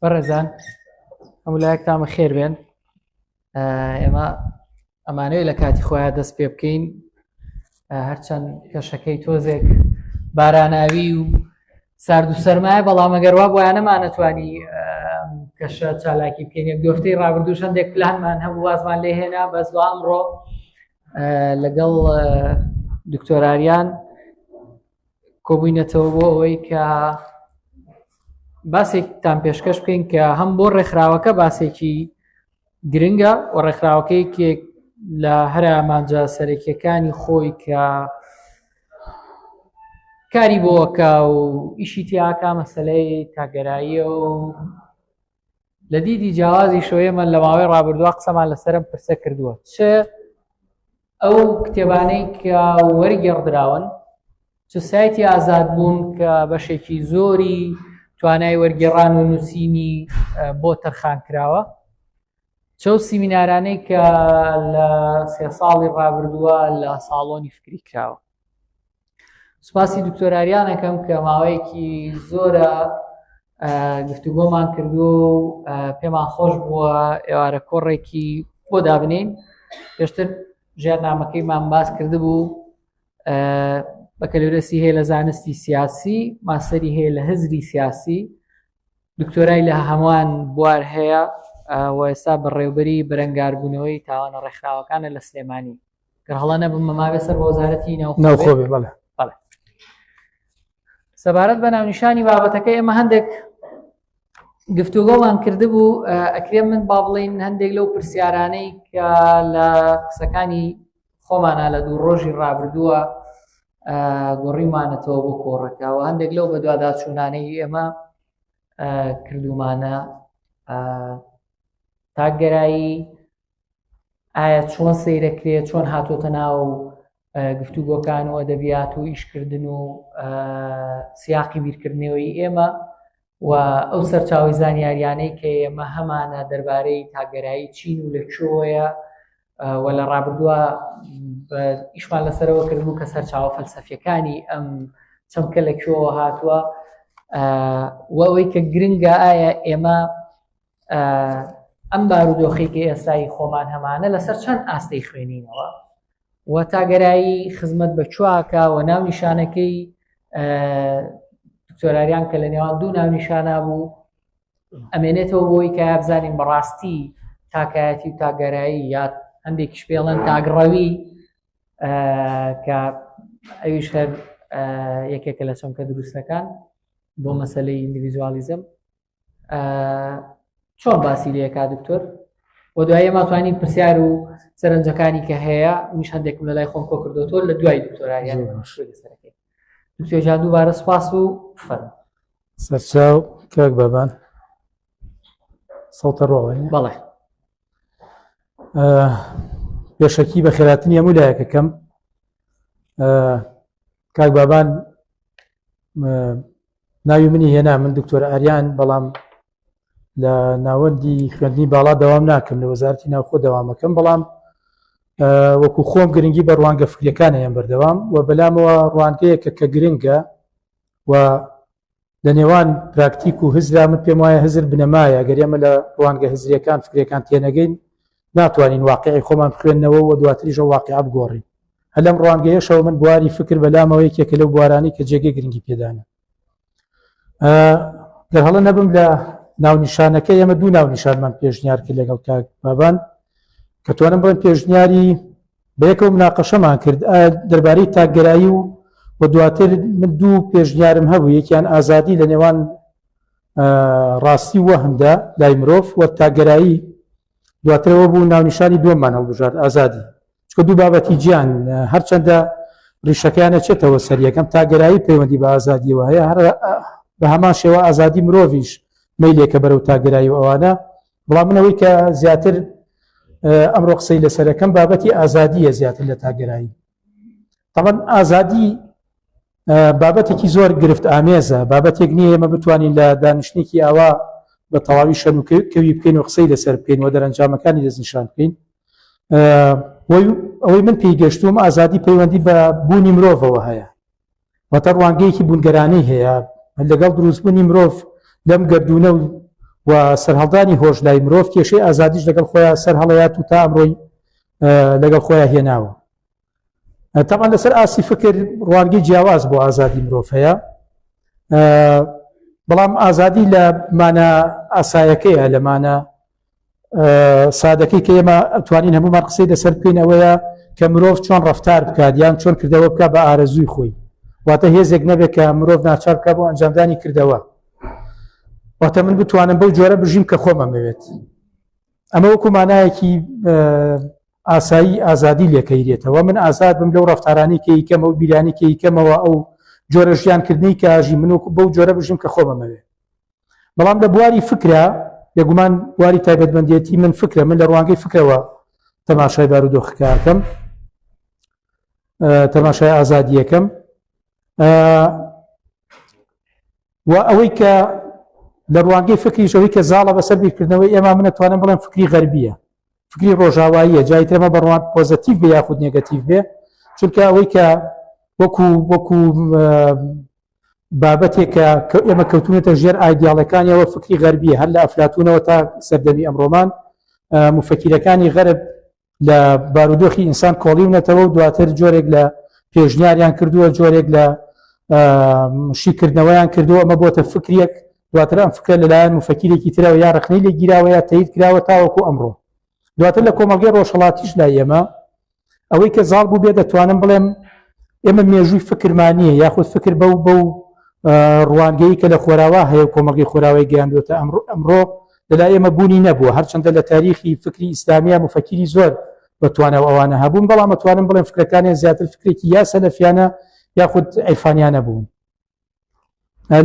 بەڕێزان هەمولایەک تامە خێر بێن ئێمە ئەمانەوەی لە کاتی خۆیان دەست پێ بکەین هەرچەند کەشەکەی تۆزێک باراناوی و سارد و سەرمایە بەڵام ئەگەروا بۆیانەمان نەتوانی کەشە چالاکی بکەین یەک دۆفتەی ڕابردوو شەندێک پلانمان هەبوو وازمان لێ هێنا بەس بۆ ئەمڕۆ لەگەڵ دکتۆراریان کۆبووینەتەوە بۆ ئەوەی کە باسێکتان پێشکەش بکەین کە هەم بۆ ڕێکخراوەکە باسێکی گرنگە و ڕێکخراوەکەیەکێک لە هەرە ئامانجا سەرەکیەکانی خۆی کە کاری بۆکە و ئیشی تیاکە مەسلەی تاگەراییە و لە دیدی جیاوازیشەوە ئێمە لە ماوەی ڕابردووا قسەمان لەسەرم پرسە کردووە چ ئەو کتێبانەی کە وەرگێڕدراون چ سایتی ئازاد بوون کە بەشێکی زۆری توانای وەرگێڕان و نووسینی بۆ تەرخان کراوە چەو سیمینارانەی کە لە سێ ساڵی ڕابردووە لە ساڵۆنی فکری کراوە سوپاسی دکتۆراریانەکەم کە ماوەیەکی زۆرە گفتوگۆمان کردو پێمان خۆش بووە ئێوارە کۆڕێکی بۆ دابنین پێشتر ژێرنامەکەیمان باس کردبوو بەکەلورەسی هەیە لە زانستی سیاسی ماسەری هەیە لە هزری سیاسی دکتۆرای لە هەمووان بوار هەیە و ئێستا بەڕێوبەری بەرەنگاربوونەوەی تاوانە ڕێکخراوەکانە لە سلێمانی گەر هەڵە نەبم مەماوێ سەر بە وەزارەتی ناوخۆ بێ بەڵێ بەڵێ سەبارەت بە ناونیشانی بابەتەکە ئێمە هەندێک گفتوگەڵان کردبوو ئەکرێ من با بڵین هەندێک لەو پرسیارانەی کە لە قسەکانی خۆمانە لە دوو ڕۆژی ڕابردووە گۆڕیمانەتەوە بۆ کۆڕەکەەوە هەندێک لەو بەدواداچوونانەی ئێمە کردومانە تاگەرایی ئایا چۆن سەیرەکرێت چۆن هاتۆتە ناو گفتوگۆکان و ئەدەبیات و ئیشکردن و سیاقی بیرکردنەوەی ئێمە و ئەو سەرچاوی زانیاریانەی کە ئێمە هەمانە دەربارەی تاگەرایی چین و لە کوێیە و لە ڕابردووە ئیشمان لەسەرەوە کردبوو کە سەرچاوە فەلسەفیەکانی ئەم چەمکە لە کوێوە هاتووە وەوەی کە گرنگە ئایا ئێمە ئەم بارودۆخی کە ئێستای خۆمان هەمانە لەسەر چەند ئاستی خوێنینەوە و تاگەرایی خزمەت بە چواکە و ناو نیشانەکەی دکتۆراریان کە لە نێوان دوو ناو نیشانە بوو ئەمێنێتەوە بۆی کە بزانین بەڕاستی تاکایەتی و تاگەرایی یاد هەندێکیش پێڵەن تاگڕەوی کە ئەویش هەر یەکێکە لە چەمکە دروستەکان بۆ مەسلەی ئینگلیزوالیزم چۆن باسی لەکە دکتۆر و دوای ئێمە توانین پرسیار و سەرنجەکانی کە هەیە منش هەندێکم لە لای خۆم کۆ کردو تۆ لە دوای دکتۆرایان دکتۆژان دووبارە سپاس و فەر سەرچاو کاک بابان سەڵتە ڕۆڵی بەڵێ پێشەکی بە خێراتنی هەموو لایەکە کەم کاک بابان ناوی منی هێنا من دکتۆر ئاریان بەڵام لە ناوەندی خوێندنی باڵا داوام ناکەم لە وەزارتی ناوخۆ داوامەکەم بەڵام وەکو خۆم گرنگی بە ڕوانگە فکرەکان هەیەم بەردەوام و بەلامەوە ڕوانگەیە کە کە گرنگە و لە نێوان پراکتیک و هزرا من پێم وایە هزر بنەمایە گەرێمە لە ڕوانگە هزریەکان فکرەکان تێنەگەین ناتوانین واقعی خۆمان بخوێنەوە و دواتریش ئەو واقعە بگۆڕین هەر لەم ڕوانگەیەشەوە من بواری فکر بەلامەوە یەکێکە لەو بوارانی کە جێگەی گرنگی پێدانە گەر هەڵە نەبم لە ناونیشانەکە ئێمە دوو ناونیشانمان پێشنیار کرد لەگەڵ کاک بابان کە توانم بڵێن پێشنیاری بەیەکەوە مناقەشەمان کرد دەربارەی تاگەرایی و و دواتر من دوو پێشنیارم هەبوو یەکیان ئازادی لە نێوان ڕاستی وەهم دا لای مرۆڤ وە تاگەرایی دواترەوە بوو ناونیشانی دووەممان هەڵبژارد ئازادی چکە دوو بابەتی جیان هەرچەندە ڕیشەکەیانە چێتەوە سەر یەکەم تاگەرایی پەیوەندی بە ئازادیەوە هەیە هەر بە هەمان شێوە ئازادی مرۆڤش میلێکە بەرەو تاگەرایی و ئەوانە بەڵام منەوەی کە زیاتر ئەمڕۆ قسەی لەسەرەکەم بابەتی ئازادیە زیاتر لە تاگەرایی تەڵەن ئازادی بابەتێکی زۆر گرفت ئامێزە بابەتێک نییە ئێمە بتوانین لە دانیشتێکی ئاوا بە تەواوی شەن و کەوی بکەین و قسەی لەسەر بکەین و دەرەنجامەکانی دەستنیشان بکەین ئەوەی من پێی گەشتوم ئازادی پەیوەندی بە بوونی مرۆڤەوە هەیە وەتە ڕوانگەیەکی بوونگەرانەی هەیە لەگەڵ دروستبوونی مرۆڤ لەم گردونە و و سەرهەڵدانی هۆش لای مرۆڤ کێشەی ئازادیش لەگەڵ خۆیان سەر هەڵەیات و تا ئەمڕۆی لەگەڵ خۆیان هێناوە تەمان لەسەر ئاسی فکر ڕوانگەی جیاواز بۆ ئازادی مرۆڤ هەیە بەڵام ئازادی لە مانە ئاسایەکەیە لەمانە سادەکەی کە ئێمە توانین هەمومان قسەی لەسەر بکەین ئەوەیە کە مرۆڤ چۆن ڕفتار بکات یان چۆن کردەوە بکە بە ئارەزووی خۆی واتە هێزێک نەبێت کە مرۆڤ ناچار بکە بۆ ئەنجامدانی کردەوە واتە من بتوانم بەو جۆرە بژیم کە خۆمەمەوێت ئەمە وەکو مانایەکی ئاسایی ئازادی لێ کەیرێتەوە من ئازاد بم لەو ڕەفتارانەی کەی کەمە و بیرانی کەی کەمەوە ئەو جۆرە ژیان کردنەی کە ئاژی من وەکو بەو جۆرە بژیم کە خۆم ئەمەوێ بەڵام لە بواری فکرە بێگومان بواری تایبەتمەندێتی من فکرە من لە ڕوانگەی فکرەوە تەماشای بارودۆخەکەکەم تەماشای ئازادیەکەم و ئەوەی کە لە ڕوانگەی فکریشەوەی کە زاڵە بەسەر بیرکردنەوەی ئێمە منە توانم بڵێم فکری غەربیە فکری ڕۆژاواییە جای تر مە بەڕوان پۆزەتیف بێ یاخود نێگەتیف بێ چونکە ئەوەی کە وەکو وەکو بابەتێکە کە ئێمە کەوتونەتە ژێر ئایدیاڵەکانیەوە فکری غەربیە هەر لە ئەفلاتونەوە تا سەردەمی ئەمڕۆمان مفەکیرەکانی غەرب لە بارودۆخی ئینسان کۆڵیونەتەوە و دواتر جۆرێک لە پێشنیاریان کردووە جۆرێک لە شیکردنەوەیان کردووە ئەمە بۆتە فکرێک دواتر ئەم فکرە لەلایەن مفەکیرێکی ترەوە یا ڕخنەی لێ گیراوە یا تەیر کراوە تاوەکو ئەمڕۆ دواتر لە کۆمەڵگەی ڕۆژهڵاتیش لای ئێمە ئەوەی کە زاڵ بوو بێ دەتوانم بڵێم ئێمە مێژووی فکرمانە یاخود فکر بەو بەو ڕوانگەی کە لە خۆراوا هەیە کۆمەڵگەی خۆراوای گەیاندوێتە ئەمڕۆ ئەمڕۆ لەلا ئێمە بوونی نەبووە هەرچەندە لە تاریخی فکری ئیسلامیە مفەکیری زۆر بەتوانە و ئەوانە هەبوون بەڵام ئەتوانم بڵێن فکرەکانیان زیاتر فکرێکی یا سەلەفیانە یاخود ئەیفانیانە بوون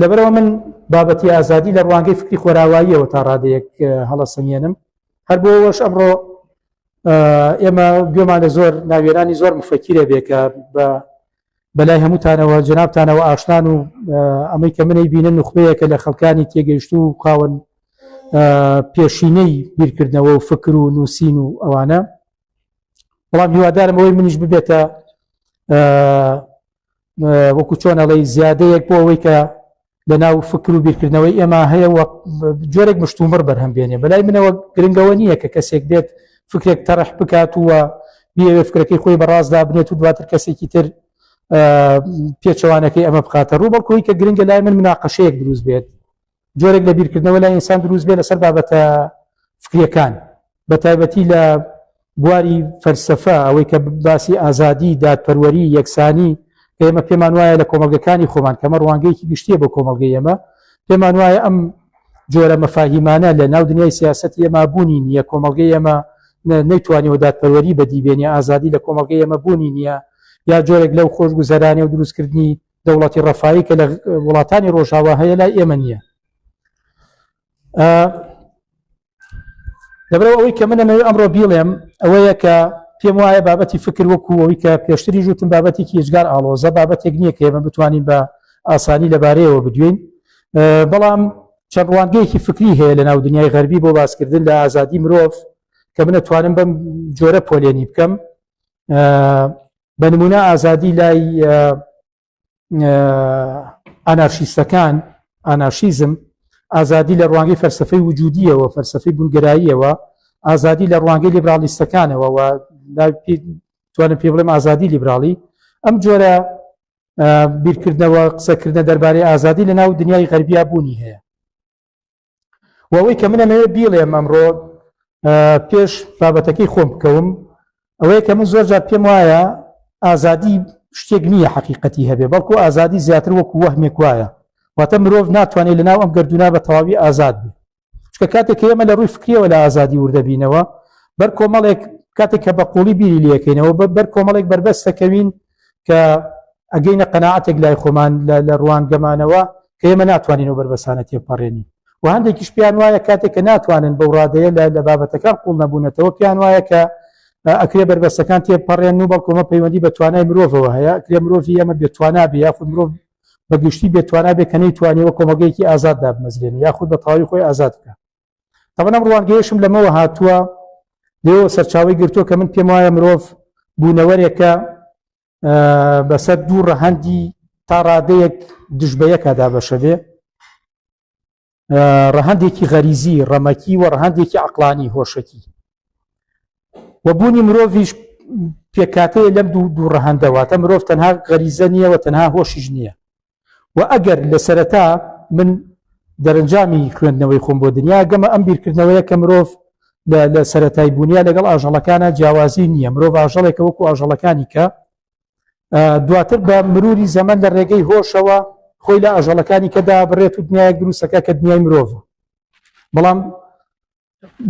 لەبەرەوە من بابەتی ئازادی لە ڕوانگەی فکری خۆراواییەوە تا ڕادەیەک هەڵە سەنگێنم هەر بۆەوەش ئەمڕۆ ئێمە گوێمان لە زۆر ناوێرانی زۆر مفەکیرە بێ کە بە بەلای هەمووتانەوە جنابتانەوە ئاشتان و ئەمەی کە منەی بینە نوخبەیەکە لە خەڵکانی تێگەیشت و خاون پێشینەی بیرکردنەوە و فکر و نووسین و ئەوانە بەڵام هیوادارم ئەوەی منیش ببێتە وەکو چۆن ئەڵی زیادەیەک بۆ ئەوەی کە لە ناو فکر و بیرکردنەوەی ئێمە هەیە جۆرێک مشتومڕ بەرهەم بێنێ بەلای منەوە گرنگەوە نییە کە کەسێک بێت فکرێک تەرح بکات وە بیەوێ فکرەکەی خۆی بەڕاستدا بنێت و دواتر کەسێکی تر پێچەوانەکەی ئەمە بخاتە ڕوو بەڵکۆی کە گرنگە لای من مناقەشەیەک دروست بێت جۆرێک لە بیرکردنەوە لای ئینسان دروست بێ لەسەر بابەتە فکریەکان بە تایبەتی لە بواری فەرسەفە ئەوەی کە باسی ئازادی دادپەروەری یەکسانی ئێمە پێمان وایە لە کۆمەلگەکانی خۆمان کەمە ڕوانگەیەکی گشتیە بۆ کۆمەلگەی ئێمە پێمان وایە ئەم جۆرە مەفاهیمانە لە ناو دنیای سیاست ئێمە بوونی نییە کۆمەلگەی ئێمە نەیتوانیەوە دادپەروەری بەدیبێنی ئازادی لە کۆمەلگەی ئێمە بوونی نییە یا جۆرێک لەو خۆشگوزەرانێ و دروستکردنی دەوڵەتی ڕەفایی کە لە وڵاتانی ڕۆژاوا هەیە لای ئێمە نییە دەبرەوە ئەوەی کە منە نەوێ ئەمڕۆ بیڵێم ئەوەیە کە پێم وایە بابەتی فکر وەکو ئەوی کە پێشتری ژوتم بابەتێکی هێزگار ئاڵۆزە بابەتێک نییە کە ئێمە بتوانین بە ئاسانی لەبارەیەوە بدوین بەڵام چەند ڕوانگەیەکی فکری هەیە لە ناو دنیای غەربی بۆ باسکردن لە ئازادی مرۆڤ کە منە توانم بەم جۆرە پۆلێنی بکەم بە نمونە ئازادی لای ئانارشیستەکان ئانارشیزم ئازادی لە ڕوانگەی فەرسەفەی وجودیەوە فەرسەفەی بونگراییەوە ئازادی لە ڕوانگەی لیبراڵیستەکانەوە و توانم پێ بڵێم ئازادی لیبراڵی ئەم جۆرە بیرکردنەوە قسەکردە دەربارەی ئازادی لە ناو دنیای غەربیا بوونی هەیە وەوەی کە منەمەوێت بیڵێم ئەمڕۆ پێش بابەتەکەی خۆم بکەوم ئەوەیە کە من زۆر جار پێم وایە ئازادی شتێک نییە حقیقەتی هەبێ بەڵکو ئازادی زیاتر وەکو وەهمێک وایە واتە مرۆڤ ناتوانێت لەناو ئەم گردونا بە تەواوی ئازاد بێ چکە کاتێک ئێمە لە ڕووی فکریەوە لە ئازادی وردەبینەوە بەر کۆمەڵێک کاتێک کە بە قوڵی بیری لەکەینەوە بەر کۆمەڵێک بەربەستەکەوین کە ئەگەینە قەناعەتێک لای خۆمان لە لە ڕوانگەمانەوە کە ئێمە ناتوانین ئەو بەربەسانە تێپەڕێنین و هەندێکیش پێیان وایە کاتێک کە ناتوانن بەو ڕادەیە لە لە بابەتەکان قوڵ نەبوونەتەوە پێیان وایە کە ئەکرێ بەربەستەکان تێپەڕێن و بەڵکۆمە پەیوەندی بە توانای مرۆڤەوە هەیە ئەکرێ مرۆڤی ئەمە بێتواننا بێ یاخود مرۆڤ بە گشتی بێتواننا بێ کە نەیتوانیەوە کۆمەگەیەکی ئازاد دابمەزرێن یاخود بە تەواوی خۆی ئازاد بکە تەبەن ئەم ڕوانگەیەشم لەمەوە هاتووە لێەوە سەرچاوی گرتووە کە من پێم وایە مرۆڤ بوونەوەرێکە بەسەر دوو ڕەهەندی تا ڕادەیەک دژبەیەکە دابەشەبێ ڕەهندێکی غەریزی ڕەمەکی و ڕەهندێکی عقلانی هۆشەکی و بوونی مرۆڤش پێکاتەیە لەم دوو دوو ڕەهندەوە تە مرۆڤ تەنها غەریزە نییەوە تەنها هۆشیش نییە و ئەگەر لە سەرەتا من دەرەنجامی خوێندنەوەی خۆم بۆ دنیا گەمە ئەم بیرکردنەوەیە کە مرۆڤ لە سەتای بوونە لەگەڵ ئاژەڵەکانە جیاوازی نییە مرۆڤ ئاژەڵێکە وەکو ئاژەڵەکانی کە دواتر بە مروری زەمن لە ڕێگەی هۆشەوە خۆی لە ئاژەڵەکانی کەدا بڕێت و دنیای دروستەکە کە دنیای مرۆڤ بەڵام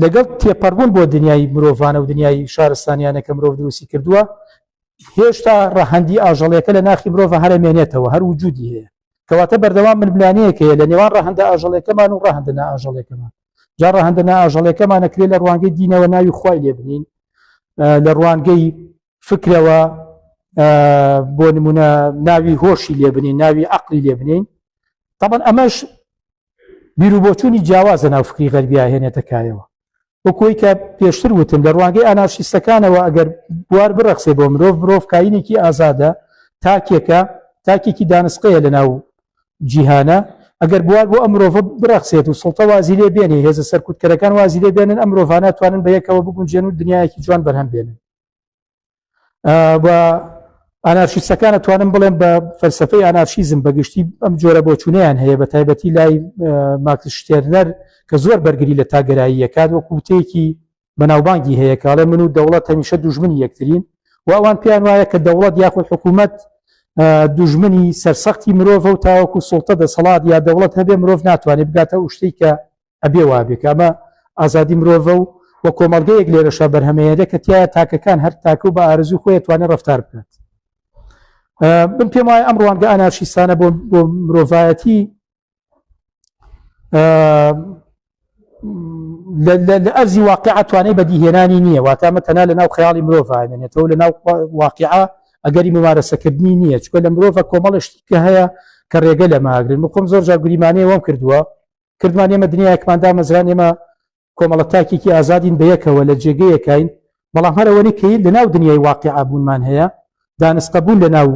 لەگەڵ تێپەڕبوون بۆ دنیای مرۆڤانە و دنیای شارستانیانە کە مرۆڤ دروستی کردووە هێشتا ڕەهەندی ئاژەڵەکە لە ناخی مرۆڤ هەرەمێنێتەوە هەر وجودی هەیە کەواتە بەردەوام من بلانەیەک هەیە لە نێوان ڕەهندە ئاژەڵەکەمان و ڕەهندە ئاژەڵەکەمان جا ڕەهندە ئاژەڵەکەمان نەکرێ لە ڕوانگەی دینەوە ناوی خی لێ بنین لە ڕوانگەی فکرەوە بۆ نمونە ناوی هۆشی لێ بنین ناوی عقلی لێ بنین طبعا ئەمەش بیروبۆچوونی جیاواز لەناو فکری غەربیا هێنێتە کایەوە وەکۆی کە پێشتر وتم لە ڕوانگەی ئانارشیستەکانەوە ئەگەر بوار بڕەخسێ بۆ مرۆڤ مرۆڤ کاینێکی ئازادە تاکێکە تاکێکی دانسقەیە لەناو جیهانە ئەگەر بوار بۆ ئەم مرۆڤ بڕەخسێت و سڵتە وازی لێ بێنێ هێزە سەرکوتکەرەکان وازی لێ بێنن ئەم مرۆڤانە توانن بە یەکەوە بگونجێن و دنیایەکی جوان بەرهەم بێنن و ئەنارشیستەکانە توانم بڵێم بە فەلسفەی ئەنارشیزم بەگشتی ئەم جۆرە بۆچوونیان هەیە بە تایبەتی لای ماکس شتێرنەر کە زۆر بەرگری لە تاگەراییەکات وە کووتەیەکی بەناوبانگی هەیە کاڵێ من و دەوڵەت هەمیشە دوژمنی یەکترین و ئەوان پێیان وایە کە دەوڵەت یاخود حکوومەت دوژمنی سەرسەختی مرۆڤ و تاوەکو سڵتە دەسەڵات یا دەوڵەت هەبێ مرۆڤ ناتوانێت بگاتە ئوشتەی کە ئەبێ وابێ کە ئەمە ئازادی مرۆڤە و و کۆمەڵگەیەک لێرەشا بەرهەمەیەدە کە تایە تاکەکان هەر تاکە و بە ئارزوی خۆی توانێت ڕفتار بکات من پێم وایە ئەم ڕوانگە ئەنارشیستانە بۆ بۆ مرۆڤایەتی لە ئەرزی واقع توانای بەدیهێنانی نییە واتامە تەنا لە ناو خیاڵی مرۆڤێنێتەوە لە ناو واقع ئەگەری ممارەسەکردنی نییە چکە لە مرۆڤە کۆمەڵشتی کە هەیە کە ڕێگە لە ماگرن مخۆم زۆر جاگوریمانەیەوەم کردووە کردمان ئێمە دنیایەکمان دامەزران ئێمە کۆمەڵە تاکێکی ئازادین بە یەکەوە لە جێگەیەکین بەڵام هەرەوەنی کە لە ناو دنیای واقع ئابوونمان هەیە دانسقە بوون لە ناو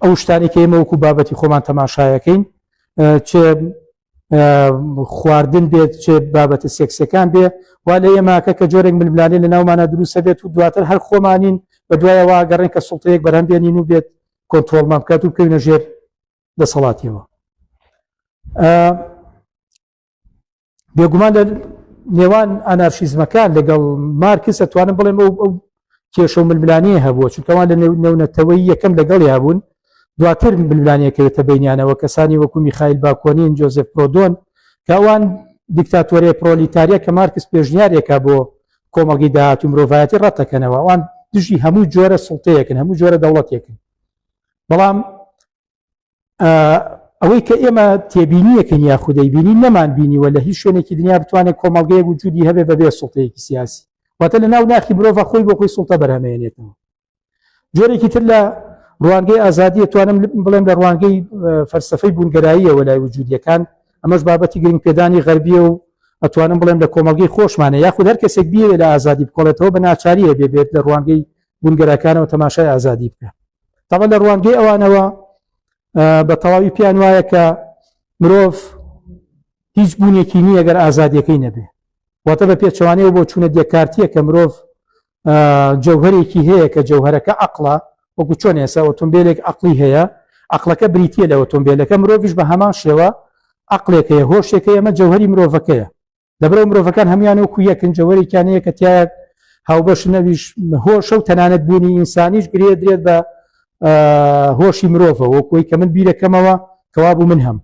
ئەو شتانی کە ئێمە وەکو بابەتی خۆمان تەماشایەکەین چ خواردن بێت چ بابەتە سێکسەکان بێ وا لە ئێماکە کە جۆرێک ململانێ لە ناومانە دروستە بێت و دواتر هەر خۆمانین بە دوایەوە گەڕێن کە سڵتەیەک بەرەم بێنین و بێت کۆنتۆلمان بکات و بکەوینە ژێر دەسەڵاتیەوە بێگومان لە نێوان ئەنارشیزمەکان لەگەڵ مارکس ئەتوانم بڵێم ئەو ئەو کێشە و ململانیە هەبووە چونکەوان لە نێونەتەوەی یەکەم لەگەڵ هەبوون دواتر ململانیەکەوێتە بینیانەوە کەسانی وەکو میخائیل باکۆنین جۆزف پرۆدۆن کەوان دیکتاتۆریە پرۆلیتاریە کە مارکس پێشنیارێکە بۆ کۆمەڵگی داهات و مرۆڤایەتی ڕەتەکەنەوە ئەوان دژی هەموو جۆرە سڵتەیەکن هەموو جۆرە دەوڵەتێکن بەڵام ئەوەی کە ئێمە تێبینیەکەن یا خودەی بینی نەمان بینیوە لە هیچ شوێنێکی دنیا بتوانێت کۆمەلگەیە وجودی هەبێ بەبێ سڵتەیەکی سیاسی واتە لە ناو ناخی مرۆڤ خۆی بۆ خۆی سڵتە بەرهەمێنێتەوە جۆرێکی تر لە ڕوانگەی ئازادی توانم بڵێم لە ڕوانگەی فەرسەفەی بوونگەراییەوە لای وجودیەکان ئەمەش بابەتی گرنگ پێدانی غەربیە و ئەتوانم بڵێم لە کۆمەلگەی خۆشمانە یاخود هەر کەسێک بیەوێت لە ئازادی بکۆڵێتەوە بە ناچاریە بێبێت لە ڕوانگەی بونگەراکانەوە تەماشای ئازادی بکە تەمە لە ڕوانگەی ئەوانەوە بە تەواوی پێیان وایە کە مرۆڤ هیچ بوونێکی نییە گەر ئازادیەکەی نەبێ واتە بە پێچوانەیە بۆ چوونە دێکارتیە کە مرۆڤ جەوهرێکی هەیە کە جەوهرەکە عقلە وەکو چۆن ێسا ئۆتۆمبیلێک عقلی هەیە عقلەکە بریتە لە ئۆتۆمبیلەکە مرۆڤش بە هەمان شێوە عقلێکەیە هۆشێکە ئەمە جەوهری مرۆڤەکەیە لەبرەو مرۆڤەکان هەموان وەکو یەکن جەوەرێکیانەیە کە تایە هاوبەش نەویش هۆشە و تەنانەت بوونی ئینسانیش گرێ درێت بە هۆشی مرۆڤە وەکوی کە من بیرەکەمەوە کەوابوو من هەم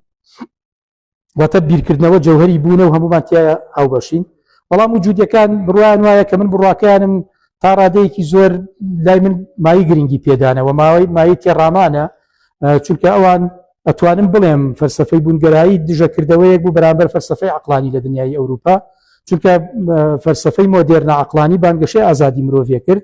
واتە بیرکردنەوە جەوهری بوونە و هەمومان تایە هاوبەشین بەڵام و جوودەکان بڕوان وایە کە من بڕواکەیانم تا ڕادەیەکی زۆر لای من مای گرنگی پێدانەوە ماوەی مای تێڕامانە چونکە ئەوان ئەتوانم بڵێم فەرسەفەی بوونگەرایی دژەکردەوەیەک بوو بەرامبەر فەرسەفەی عقلانی لە دنیای ئەوروپا چونکە فەرسەفەی مۆدێرنە عقلانی بانگەشەی ئازادی مرۆڤێ کرد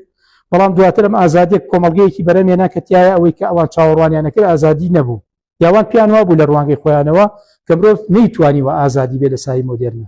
بەڵام دواتر ئەم ئازادێک کۆمەلگەیەکی بەرەمێنا کە تایە ئەوەی کە ئەوان چاوەڕوانیانە کرد ئازادی نەبوو یاوان پیان وابوو لە ڕوانگەی خۆیانەوە کە مرۆڤ نەیتوانی و ئازادی بێ لە سای مۆدێرنە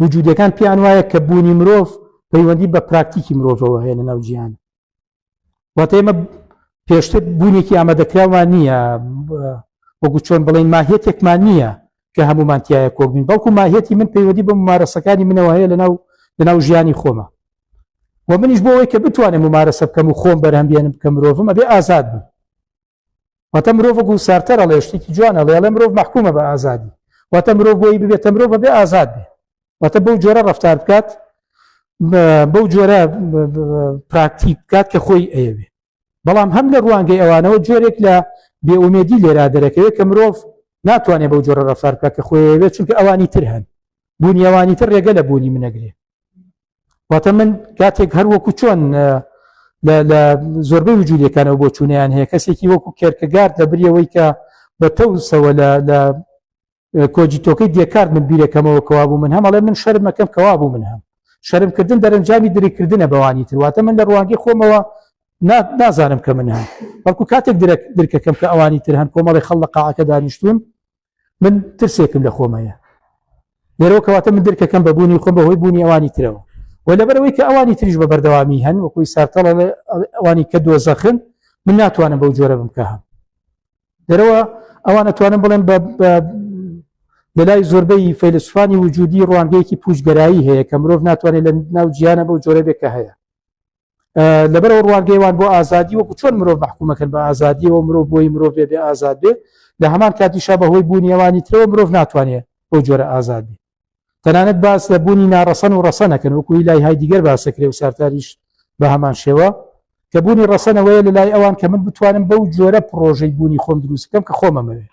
وجودەکان پێیان وایە کە بوونی مرۆڤ پەیوەندی بە پراکتیکی مرۆڤەوە هەیە لە ناوجییان واتە ئێمە پێشتر بوونێکی ئامادەکراوان نییە وەگو چۆن بڵین ماهێتێکمان نییە کە هەمومانتیایە کۆبین بەڵکو ماهێتی من پەیوەدی بە ممارەسەکانی منەوە هەیە لەناو لەناو ژیانی خۆمە و منیش بۆەوەی کە بتوانێت ممارەسە بکەم و خۆم بەرهەمبیێنم بکە مرۆڤم ئەبێ ئازاد بم واتە مرۆڤ گو سارتەر ئەڵێ شتێکی جوان ئەڵێ ئەڵێ مرۆڤ مەحکومە بە ئازادی واتە مرۆڤ بۆی ببێتە مرۆڤ بەبێ ئازاد بێ واتە بەو جۆرە ڕفتار بکات بەو جۆرە پراکتی بکات کە خۆی ئەیەوێ بەڵام هەم لە ڕوانگەی ئەوانەوە جۆرێک لە بێئومێدی لێرا دەرەکەوێت کە مرۆڤ ناتوانێت بەو جۆرە ڕفار بکە کە خۆیەوێت چونکە ئەوانی تر هەن بوونیەوانی تر ڕێگە لە بوونی منەگرێت واتە من کاتێک هەر وەکو چۆن لە زۆربەی وجوودیەکانەوە بۆ چوونیان هەیە کەسێکی وەکو کێرکەگارد لە بریەوەی کە بە تەوسەوە لە کۆجیتۆکەی دێکارد من بیرەکەمەوە کەوا بوو من هەمەڵێ من شەرمەکەم کەوا بوو من هەم شەرمکردن دەرەنجامی دریکردنە بەوانی ترواتە من لە ڕوانگی خۆمەوە نازانم کە من هەم بەڵکو کاتێک درکەکەم کە ئەوانی تر هەن کۆمەڵی خەڵ لە قاعەکە دانیشتون من ترسێکم لە خۆم هەیە لێرەوە کەواتە من درکەکەم بە بوونی خۆم بەهۆی بوونی ئەوانی ترەوە و لەبەرەوەی کە ئەوانی تریش بە بەردەوامی هەن وەکوی سارتەڵە ئەوانی کە دۆزەخن من ناتوانم بەو جۆرە بم کە هەم دەرەوە ئەوانە توانم بڵێن لە لای زۆربەی فەیلسوفانی وجودی ڕوانگەیەکی پوچگەرایی هەیە کە مرۆڤ ناتوانێت لە ناو جیانە بەو جۆرە بێکە هەیە لەبەرەوە ڕوانگەیوان بۆ ئازادی وەکو چۆن مرۆڤ بەحکومەکەن بە ئازادیەوە مرۆڤ بۆی مرۆڤ بێ بێ ئازاد بێ لە هەمان کاتیشا بەهۆی بوونیەوانی ترەوە مرۆڤ ناتوانێت بۆ جۆرە ئازاد بێ تەنانەت باس لە بوونی ناڕەسەن و ڕەسەنەکەن وەکوی لای های دیگەر باسەکرێ و سارتاریش بە هەمان شێوە کە بوونی ڕەسەنەوەیە لە لای ئەوان کە من بتوانم بەو جۆرە پرۆژەی بوونی خۆم دروستکەم کە خۆمەمەوێت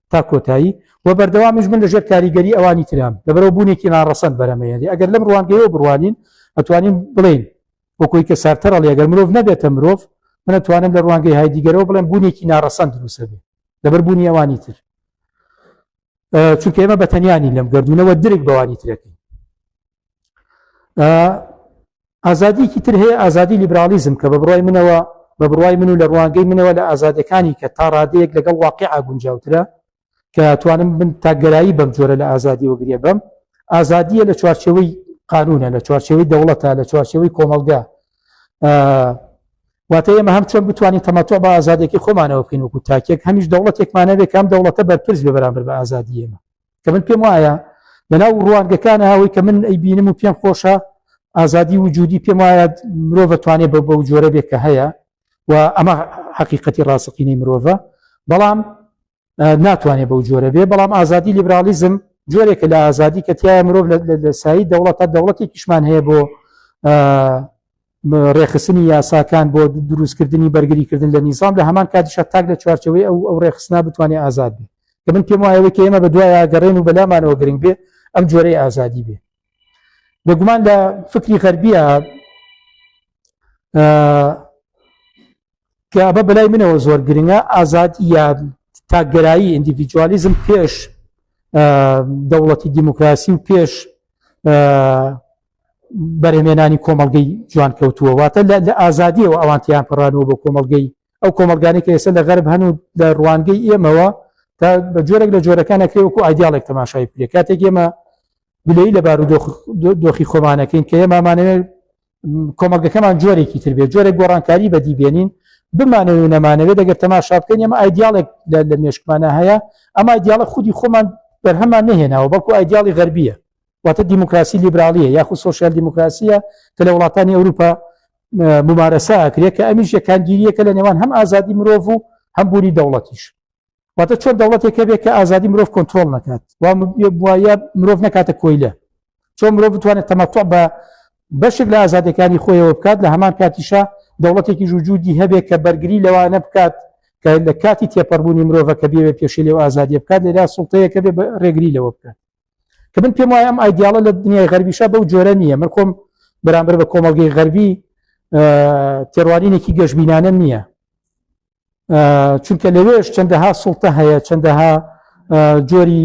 تا کۆتایی و بەردەوامیش من لەژێر کاریگەری ئەوانی ترام لەبەرەوە بوونێکی ناڕەسەن بەرەمەیەێ ئەگەر لەم ڕوانگەیەوە بڕوانین ئەتوانین بڵین وەکۆی کە سارتەرە لەگەر مرۆڤ نەبێتە مرۆڤ من ئەتوانم لە ڕوانگەی های دیگەرەوە بڵێن بوونێکی ناڕەسەن دروسە بێ لەبەر بوونی ئەوانی تر چونکە ئێمە بەتەنیانی لەم گردونەوە درک بەوانی ترەکەی ئازادیکی تر هەیە ئازادی لیبرالیزم کە بە بڕای منەوە بە بڕای من و لە ڕوانگەی منەوە لە ئازادەکانی کە تا ڕادەیەک لەگەڵ واقع ئاگونجاوترە کە توانم من تاگەرایی بەم جۆرە لە ئازادی وەگرێ بم ئازادیە لە چوارچەوەی قانونە لە چوارچەوەی دەوڵەتە لە چوارچەوەی کۆمەلگا واتە ئێمە هەم چۆن بتوانین تەماتۆ بە ئازادێکی خۆمانەوە بکەین وکو تاکێک هەمیش دەوڵەتێکمانەوێ کام دەوڵەتە بەرپرس بە بەرامبەر بە ئازادی ئێمە کە من پێم وایە لەناو ڕوانگەکانە ئەوەی کە من ئەی بینم و پێم خۆشە ئازادی وجودی پێم وایە مرۆڤ توانێت بە بەو جۆرە بێت کە هەیە و ئەمە حقیقەتی ڕاستەقینەی مرۆڤە بەڵام ناتوانێت بەو جۆرە بێ بەڵام ئازادی لیبرالیزم جۆرێکە لە ئازادی کە تایە مرۆڤ لە سایی دەوڵەتە دەوڵەتی کیشمان هەیە بۆ ڕێکخستنی یاساکان بۆ دروستکردنی بەرگریکردن لە نیزام لە هەمان کاتیشە تاک لە چوارچەوەی ئەو ئەو ڕێکخستنا بتوانێت ئازاد بێ کە من پێم وایەوەی کە ئێمە بە دوایە گەڕێن و بەلامانەوە گرنگ بێ ئەم جۆرەی ئازادی بێ بێگومان لە فکری غەربیە کە ئەمە بەلای منەوە زۆر گرنگە ئازاد یا تاکگەرایی ئیندیڤیجوالیزم پێش دەوڵەتی دیموکراسی و پێش بەرهمێنانی کۆمەلگەی جوان کەوتووە واتە لە ئازادیەوە ئەوانتیان پڕانەوە بۆ کۆمەلگەی ئەو کۆمەلگانی کە ئێستا لە غەرب هەن و لە ڕوانگەی ئێمەوە تا بە جۆرێک لە جۆرەکان نەکرێ وەکو ئایدیالێک تەماشای پێ کاتێک ئێمە گلەی لە بار و دۆخی خۆمانەکەین کە ئێمامانەوێت کۆمەلگەکەمان جۆرێکی تر بێت جۆرە گۆڕانکاری بەدی بێنین بمانەوێ نەمانەوێت دەگەر تەماشا بکەین ئەمە ئایدیالێک لە مێشکمانە هەیە ئەما دیاڵە خودی خۆمان بەرهەمان نهێناوە بەڵکو ئایدیاڵی غەربیە واتە دیموکراسی لیبرالیە یاخود سوسیال دیموکراسیە کە لە وڵاتانی ئەوروپا ممارەسە ئەکرێت کە ئەمیش یەکانگیریەکە لە نێوان هەم ئازادی مرۆڤ و هەم بوونی دەوڵەتیش واتە چۆن دەوڵەتێک هەبێت کە ئازادی مرۆڤ کۆنتترۆل نکات وایە مرۆڤ نکاتە کۆیلە چۆن مرۆڤ بتوانێت تەمەتوع بە بەشێک لە ئازادەکانی خۆیەوە بکات لە هەمان کاتیشە دەوڵەتێکی ژوجودی هەبێت کە بەرگری لەوانە بکات کە لە کاتی تێپەڕبوونی مرۆڤە کە بێوێ پێشی لێو ئازادی بکات لێرا سڵتەیەکە بێ ڕێگری لەوە بکات کە من پێم وایە ئەم ئایدیاڵە لە دنیای غەربیشە بەو جۆرە نییە من خۆم بەرامبەر بە کۆمەلگەی غەربی تێڕوانینێکی گەشببینانە نییە چونکە لەوێش چەندەها سڵتە هەیە چەندەها جۆری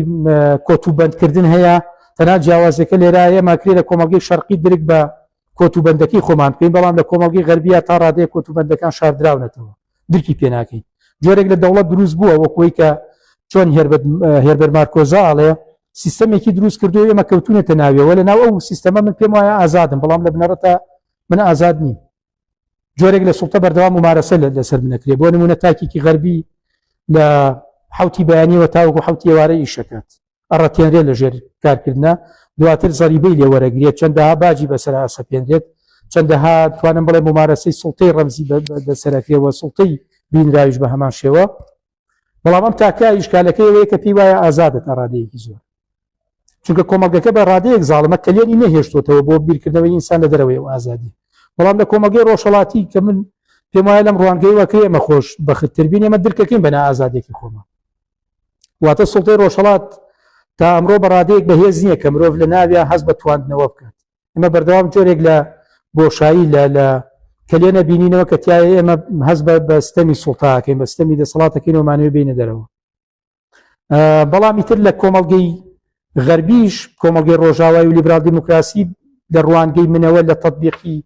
کۆت و بەندکردن هەیە تەنا جیاوازەکە لێرا ئێمە کرێ لە کۆمەڵگەی شەرقی درک بە کۆت و بەندەکەی خۆمان پێین بەڵام لە کۆمەڵگەی غەربیا تا ڕادەیە کۆت و بەندەکان شاردراونەتەوە درکی پێناکەین جۆرێک لە دەوڵەت دروست بووە وەکوی کە چۆن هێربەر مارکۆزا ئاڵێ سیستەمێکی دروست کردو ئێمە کەوتونێتە ناویەوە لە ناو ئەو سیستەمە من پێم وایە ئازادم بەڵام لە بنەڕەتە من ئازاد نیم جۆرێک لە سوڵتە بەردەوام ممارەسە لەسەر بنەکرێ بۆ نمونە تاکێکی غەربی لە حوتی بەیانیەوە تاوەکو حوتی ئێوارە ئیشەکات ئەڕەتێنرێت لە ژێر کارکردە دواتر زەریبەی لێ وەرەگرێت چەندەها باجی بەسەر ئاسەپێنرێت چەندەها توانم بڵێ ممارەسەی سڵتەی ڕەمزی بەسەرەکرێەوە سڵتەی بینراویش بە هەمان شێوە بەڵام ئەم تاکە ئیشکالەکەی ئەوەیە کە پێی وایە ئازادە تا ڕادەیەکی زۆر چونکە کۆمەلگەکە بە ڕادەیەک زاڵمە کەلێنی نەهێشتوتەوە بۆ بیرکردنەوەی ئینسان لە دەرەوەی و ئازادی بەڵام لە کۆمەلگەی ڕۆژەڵاتی کە من پێم وایە لەم ڕوانگەی وەکە ئێمە خۆش بەختتربین ئێمە درکەکەین بەنا ئازادێکی خۆمان واتە سڵتەی ڕۆژەڵات تا ئەمڕۆ بەڕادەیەک بەهێز نییە کە مرۆڤ لە ناویان هەز بە تواندنەوە بکات ئمە بەردەوام جۆرێک لە بۆشایی لە لە کەلێنە بینینەوە کە تایە ئێمە هەز بە بەستەمی سوڵتاکەین بەستەمی دەسەڵاتەکەین ومانەوە بینە دەرەوە بەڵامی تر لە کۆمەڵگەی غەربیش کۆمەڵگەی ڕۆژاوای و لیبرال دیموکراسی لە ڕوانگەی منەوە لە تطببیقی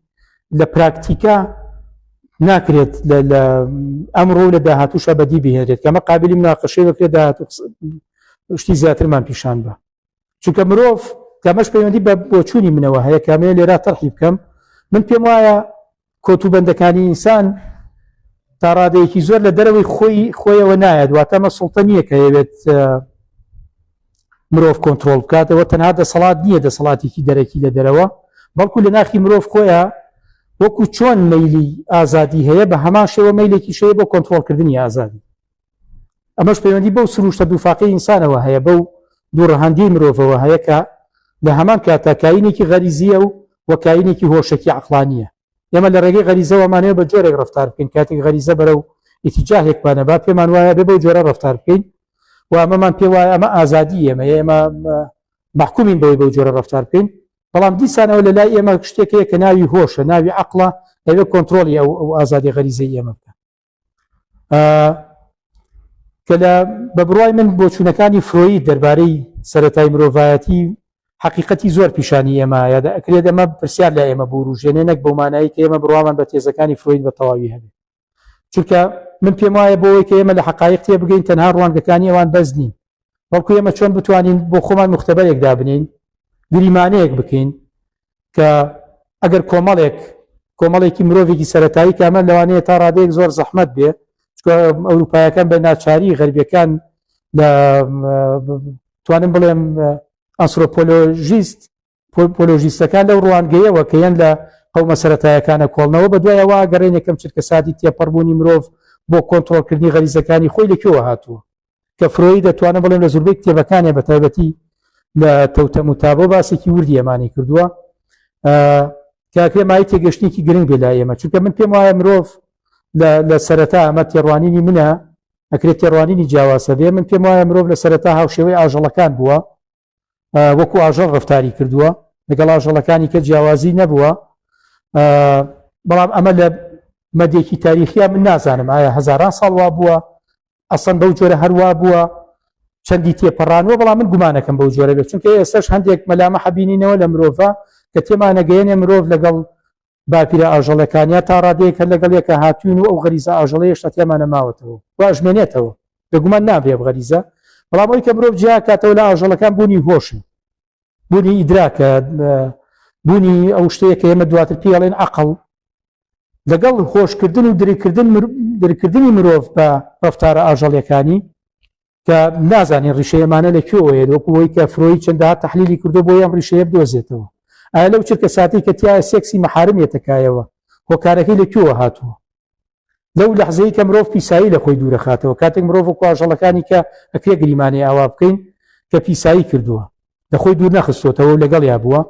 لە پراکتیکا ناکرێت لە ئەمڕۆ لە داهاتوشە بەدی بهێنێت کەمە قابلی مناقەشەی بکرێت داهات شتی زیاترمان پیشان بە چونکە مرۆڤ کە ئەمەش پەیوەندی بە بۆچوونی منەوە هەیە کە ئەمەیە لێرا تەرحی بکەم من پێم وایە کۆتوبەندەکانی ئینسان تا ڕادەیەکی زۆر لە دەرەوەی خۆی خۆیەوە نایەت واتە مە سڵتە نییە کە هەیەوێت مرۆڤ کۆنتترۆل بکاتەوە تەنها دەسەڵات نییە دەسەڵاتێکی دەرەکی لە دەرەوە بەڵکو لە ناخی مرۆڤ خۆیە وەکو چۆن مەلی ئازادی هەیە بە هەمان شێوە مەلێکی شەیە بۆ کۆنتترۆلکردنی ئازادی ئەمەش پەیوەندی بەو سروشتە دووفاقی ئینسانەوە هەیە بەو دوو ڕەهەندی مرۆڤەوە هەیە کە لە هەمان کاتا کاینێکی غەریزیە و وە کاینێکی هۆشەکی عقلانیە ئێمە لە ڕێگەی غەریزەوەمانەیە بە جۆرێک ڕفتار بکەین کاتێک غەریزە بەرە و ئیتیجاهێکمانە با پێمان وایە بێ بەو جۆرە ڕفتار بکەین و ئەمەمان پێ وایە ئەمە ئازادی ئێمە ئێمە محکومین بەوەی بەو جۆرە ڕفتار بکەین بەڵام دیسانەوە لە لای ئێمە شتێکەیە کە ناوی هۆشە ناوی عقلە ئەوێ کۆنتترۆلی ئەو ئەو ئازادی غەریزە ئێمە بکە کە لە بە بڕای من بۆچوونەکانی فرۆید دەربارەی سەتای مرۆڤایەتی حقیقەتی زۆر پیشانی ئێمە یادا ئەکرێت ئەمە پرسیار لە ئێمە بوروژێنێ نەک بۆ مانایی کە ئێمە بڕوامان بە تێزەکانی فرۆید بە تەواوی هەبێت چونکە من پێم وایە بۆەوەی کە ئێمە لە حقایق تێ بگەین تەنها ڕوانگەکانی ئەوان بەس نین بەڵکو ئێمە چۆن بتوانین بۆ خۆمان مختبەرێک دابنین گریمانەیەک بکەین کە ئەگەر کۆمەڵێک کۆمەڵێکی مرۆڤێکی سەتایی کامە لەوانەیە تا ڕادەیەک زۆر زەحمت بێ ئەوروپایەکان بە ناچاری غەربیەکان لە توانم بڵێم ئەسرۆپۆلۆژیست پۆلۆژیستەکان لەو ڕوانگەیەوە کە یەن لە قەومە سەتایەکانە کۆڵنەوە بە دوایەوە گەڕێنێکم چرکە سادی تێپەڕبوونی مرۆڤ بۆ کۆنتترۆلکردنی غەریزەکانی خۆی لەکوێوە هاتووە کە فرۆی دەتوانە بڵێن لە زوربەی کتێبەکانێ بە تایبەتی لە تەوتەم و تابۆ باسێکی وردی ئەمانی کردووە کاکرێ مای تێگەشتێکی گرنگ بێ لا ئێمە چونکە من پێم وایە مرۆڤ لە سەرەتا ئەمە تێڕوانینی منە ئەکرێت تێڕوانینی جیاواسە بێ من پێم وایە مرۆڤ لە سەرەتا هاوشێوەی ئاژەڵەکان بووە وەکو ئاژەڵ ڕفتاری کردووە لەگەڵ ئاژەڵەکانی کە جیاوازی نەبووە بەڵام ئەمە لە مەدێکی تاریخیا من نازانم ئایا هزاران ساڵوا بووە ئەسەن بەو جۆرە هەروە بووە چەندی تێپەڕانوە بەڵام من گومانەکەم بەو جۆرە بێت چونکە ئێستش هەندێک مەلامە حەبینینەوە لە مرۆڤ کە تێمانەگەیەنێ مرۆڤ لەگەڵ باپیرە ئاژەڵەکانیا تا ڕادەیەک هەر لەگەڵ یەکە هاتووین و ئەو غەریزە ئاژەڵیە هێشتا تیامانە ماوەتەوە و ئەژمێنێتەوە. بێگومان نابێ ئەم غەریزە، بەڵام ئەوەی کە مرۆڤ جیا ئەکاتەوە لە ئاژەڵەکان بوونی هۆشە، بوونی ئیدراکە، بوونی ئەو شتەیە کە ئێمە دواتر پێی ئەڵێن عەقڵ. لەگەڵ هۆشکردن و درککردن درککردنی مرۆڤ بە ڕەفتارە ئاژەڵیەکانی، کە نازانین ڕیشە ئەمانە لە کوێوەیە وەکوەوەی کە فرۆی چەنددا تحلیلی کردو بۆ یەم ڕیشەیە بدۆزێتەوە ئایا لەو چرکە ساتی کە تایە سێکسی مەحارمێتەکایەوە هۆکارەکەی لە کوێوە هاتووە لەو لەحزەیە کە مرۆڤ پیسایی لە خۆی دوورەخاتەوە کاتێک مرۆڤ و کواژەڵەکانی کە ئەکرێ گریمانەی ئاوا بکەین کە پیسایی کردووە لە خۆی دوور نەخستۆتەوە و لەگەڵیا بووە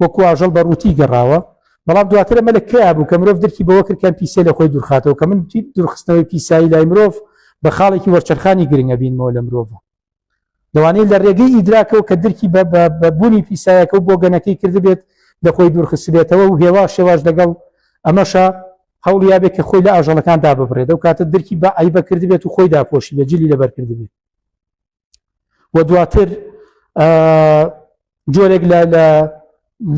وەکو ئاژەڵ بە ڕووتی گەڕاوە بەڵام دواترە مە لە کیا بوو کە مرۆڤ درکی بەوە کرد کەم پیسە لە خۆی دوورخاتەوە کە من دوورخستنەوەی پیسایی لای مرۆڤ بە خاڵێکی وەرچەرخانی گرنگە بینمەوە لە مرۆڤ لەوانەیە لە ڕێگەی ئیدراکەوە کە درکی بە بوونی پیسایەکە و بۆ گەنەکەی کردبێت لە خۆی دوورخستبێتەوە و هێوا شێواش لەگەڵ ئەمەشە هەوڵ یاێ کە خۆی لە ئاژەڵەکاندا ببڕێت و کاتە درکی بە ئایبە کردبێت و خۆی داپۆشی بە جلی لەبەرکردبێت و دواتر جۆرێک لە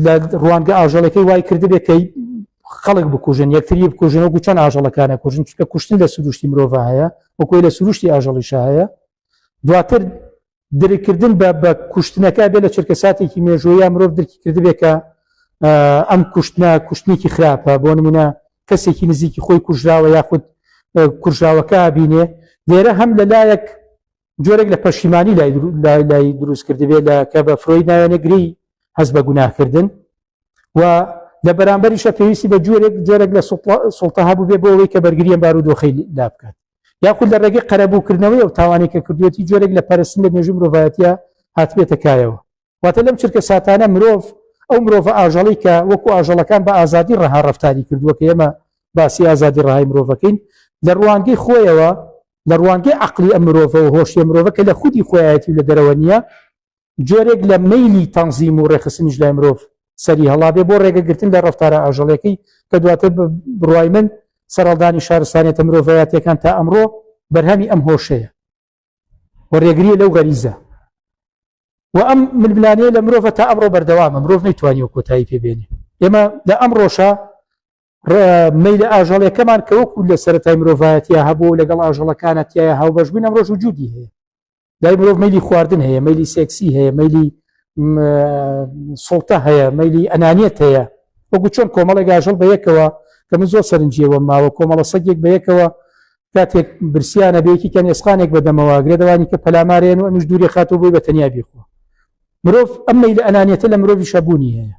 لە ڕوانگە ئاژەڵەکەی وای کردبێت کەی خەڵک بکوژن یەکتری بکوژن و گوچەن ئاژەڵەکانە کوژن چکە کوشتن لە سروشتی مرۆڤ هەیە وەکوی لە سروشتی ئاژەڵیشە هەیە دواتر درکردن بە بە کوشتنەکە بێ لە چرکەساتێکی مێژوەیە مرۆڤ درکی کردبێت کە ئەم کوشتنە کوشتنێکی خراپە بۆ نمونە کەسێکی نزیکی خۆی کوژراوە یاخود کوژراوەکە بینێ لێرە هەم لەلایەک جۆرێک لە پەشیمانی لای دروست کردبێ لە کە بە فرۆی ناوێنە گری هەز بە گوناهکردن و لە بەرامبەریشە پێویستی بە جۆرێک جۆرێک لە سڵتە هەبوو بێ بۆ ئەوەی کە بەرگریە بار و دۆخی لا بکات یاخود لە ڕێگەی قەرەبووکردنەوەی و تاوانێکە کردوێتی جۆرێک لە پەرستن لە مێژوو مرۆڤایەتە هاتبێتە کایەوە واتە لەم چرکە ساتانە مرۆڤ ئەو مرۆڤە ئاژەڵی کە وەکو ئاژەڵەکان بە ئازادی ڕەها ڕفتاری کردووە کە ئێمە باسی ئازادی ڕهای مرۆڤەکەین لە ڕوانگەی خۆیەوە لە ڕوانگەی عقلی ئە مرۆڤە و هۆشیە مرۆڤە کە لە خودی خۆیەتی لە دەرەوە نییە جۆرێک لە مەلی تەنزیم و ڕێخستنیش لای مرۆڤ سەری هەڵابێ بۆ ڕێگەگرتن لە ڕفتارە ئاژەڵەکەی کە دواتر بڕای من سەرڵدانی شارستانێتە مرۆڤایەتەکان تا ئەمڕۆ بەرهەمی ئەم هۆشەیە و ڕێگریە لەو غەریزە و ئەم ململانەیە لە مرۆڤ تا ئەمڕۆ بەردەوامە مرۆڤ نەیتوانی و کۆتایی پێبێنێ ئێمە لە ئەم ڕۆژە میل ئاژەڵەکەمان کە وەکو لە سەرای مرۆڤایەتە هەبوو لەگەڵ ئاژەڵەکانە تایە هاوبەشبوون ئەم ڕۆژ و جودی هەیە دای مرۆڤ میلی خواردن هەیە میلی سێکسی هەیە میلی سڵتە هەیە میلی ئەنانیت هەیە وەکو چۆن کۆمەڵێک ئاژەڵ بەیەکەوە کە من زۆر سەرنجیەوە ماوە کۆمەڵە سەگێک بەیەکەوە کاتێک برسیانە بێکی کە نێسخانێک بەدەمەوە گرێ دەوانی کە پەلامارێن و ئەمیش دووری خاتۆ بۆی بە تەنیا بیخۆ مرۆڤ ئەمەی لە ئەنانیەتە لە مرۆڤی شەبوونی هەیە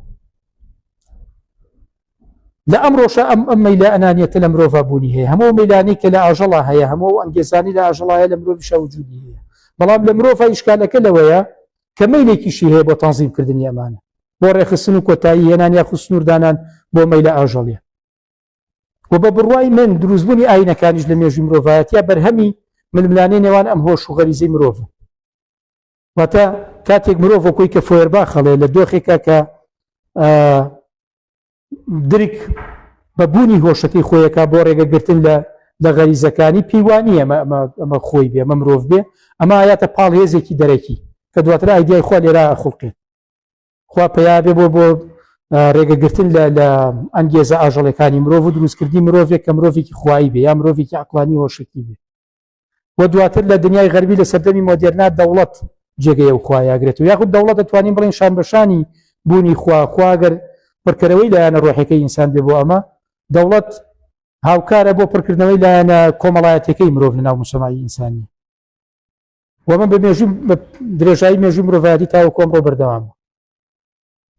لە ئەم ڕۆژە ئەم ئەم مەلا ئەنانیەتە لە مرۆڤ بوونی هەیە هەموو مەلانی کە لە ئاژەڵا هەیە هەموو ئەنگێزانی لە ئاژەڵایە لە مرۆڤ شەوجودی هەیە بەڵام لە مرۆڤ ئیشکالەکە لەوەیە کە مەیلێکیشی هەیە بۆ تەنزیم کردنی ئەمانە بۆ ڕێخستن و کۆتایی هێنان یا خوسنووردانان بۆ مەیلە ئاژەڵیە و بە بڕوای من دروستبوونی ئاینەکانیش لە مێژوی مرۆڤایەتە بەرهەمی ململانەی نێوان ئەم هۆش و غەریزەی مرۆڤە واتە کاتێک مرۆڤ کۆی کە فۆربا خەڵێ لە دۆخێکە کە درک بە بوونی هۆشەکەی خۆیەکە بۆ ڕێگەگرتن لە لە غەریزەکانی پێیوانی ئەمە ئەمە خۆی بێ ئەمە مرۆڤ بێ ئەمە یاتە پاڵ هێزێکی دەرەکی کە دواتر ئایدای خۆ لێرا خڵقێت خوا پیاێ بۆ بۆ ڕێگەگرتن لە لە ئەنگێزە ئاژەڵەکانی مرۆڤ و دروستکردنی مرۆڤێک کە مرۆڤێکی خوایی بێ یا مرۆڤێکی عقلانی هۆشکی بێ و دواتر لە دنیای غەربی لە سەردەمی مۆدیرنا دەوڵەت جێگەیە و خوایاگرێت و یاخود دەوڵەت دەتوانین بڵین شان بەشانی بوونی خواخواگەر پڕکەرەوەی لایەنە ڕۆحەکەی ئینسان بێ بۆ ئەمە دەوڵەت هاوکارە بۆ پڕکردنەوەی لایەنە کۆمەڵایەتەکەی مرۆڤ لە ناو مسەمای ئینسانی و من بە مێژوو بە درێژایی مێژوو مرۆڤایەتی تاوە کۆمڕۆ بەردەوام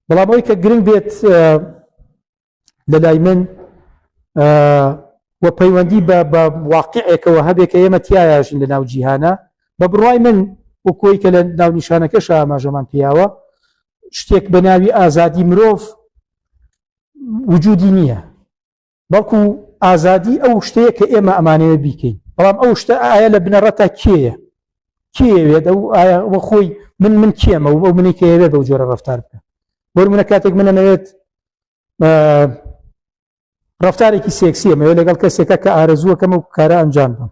بەڵام ئەوی کە گرنگ بێت لە لای من و پەیوەندی بە بە واقعێکەوە هەبێت کە ئێمە تایژین لە ناو جیهانە بە بڕای من و کۆی کە لە ناو نیشانەکە شاماژەمان پیاوە شتێک بە ناوی ئازادی مرۆڤ وجودی نییە بەڵکو ئازادی ئەو شتەیە کە ئێمە ئەمانەوێت بیکەین بەڵام ئەو شتە ئایا لە بنەڕەتا کێیە کێوێت ئەو ئایا وە خۆی من من کێمە و ئەو منی کەوێت بەو جۆرە ڕفتار بکە بۆر منە کاتێک منە نەوێت ڕفتارێکی سێکسیە مەوێت لەگەڵ کەسێکە کە ئارەزووەکەم و کارە ئەنجام بم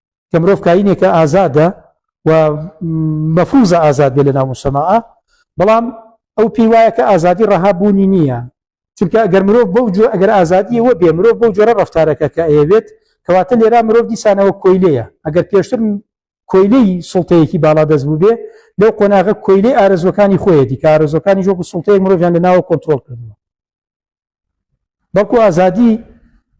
کە مرۆڤ کاینێکە ئازادە و مەفروزە ئازاد بێ لە ناو مسەماعە بەڵام ئەو پێی وایە کە ئازادی ڕەها بوونی نییە چونکە ئەگەر مرۆڤ بەو جۆ ئەگەر ئازادیەوە بێ مرۆڤ بەو جۆرە ڕفتارەکە کە ئەیەوێت کەواتە لێرا مرۆڤ دیسانەوە کۆیلەیە ئەگەر پێشتر کۆیلەی سڵتەیەکی باڵا دەست بوو بێ لەو قۆناغە کۆیلەی ئارزوەکانی خۆیەتی کارزۆکانی جۆک سڵتەیە مرۆڤیان لە ناوە کۆنتترۆل کردنەوە بەڵکو ئازادی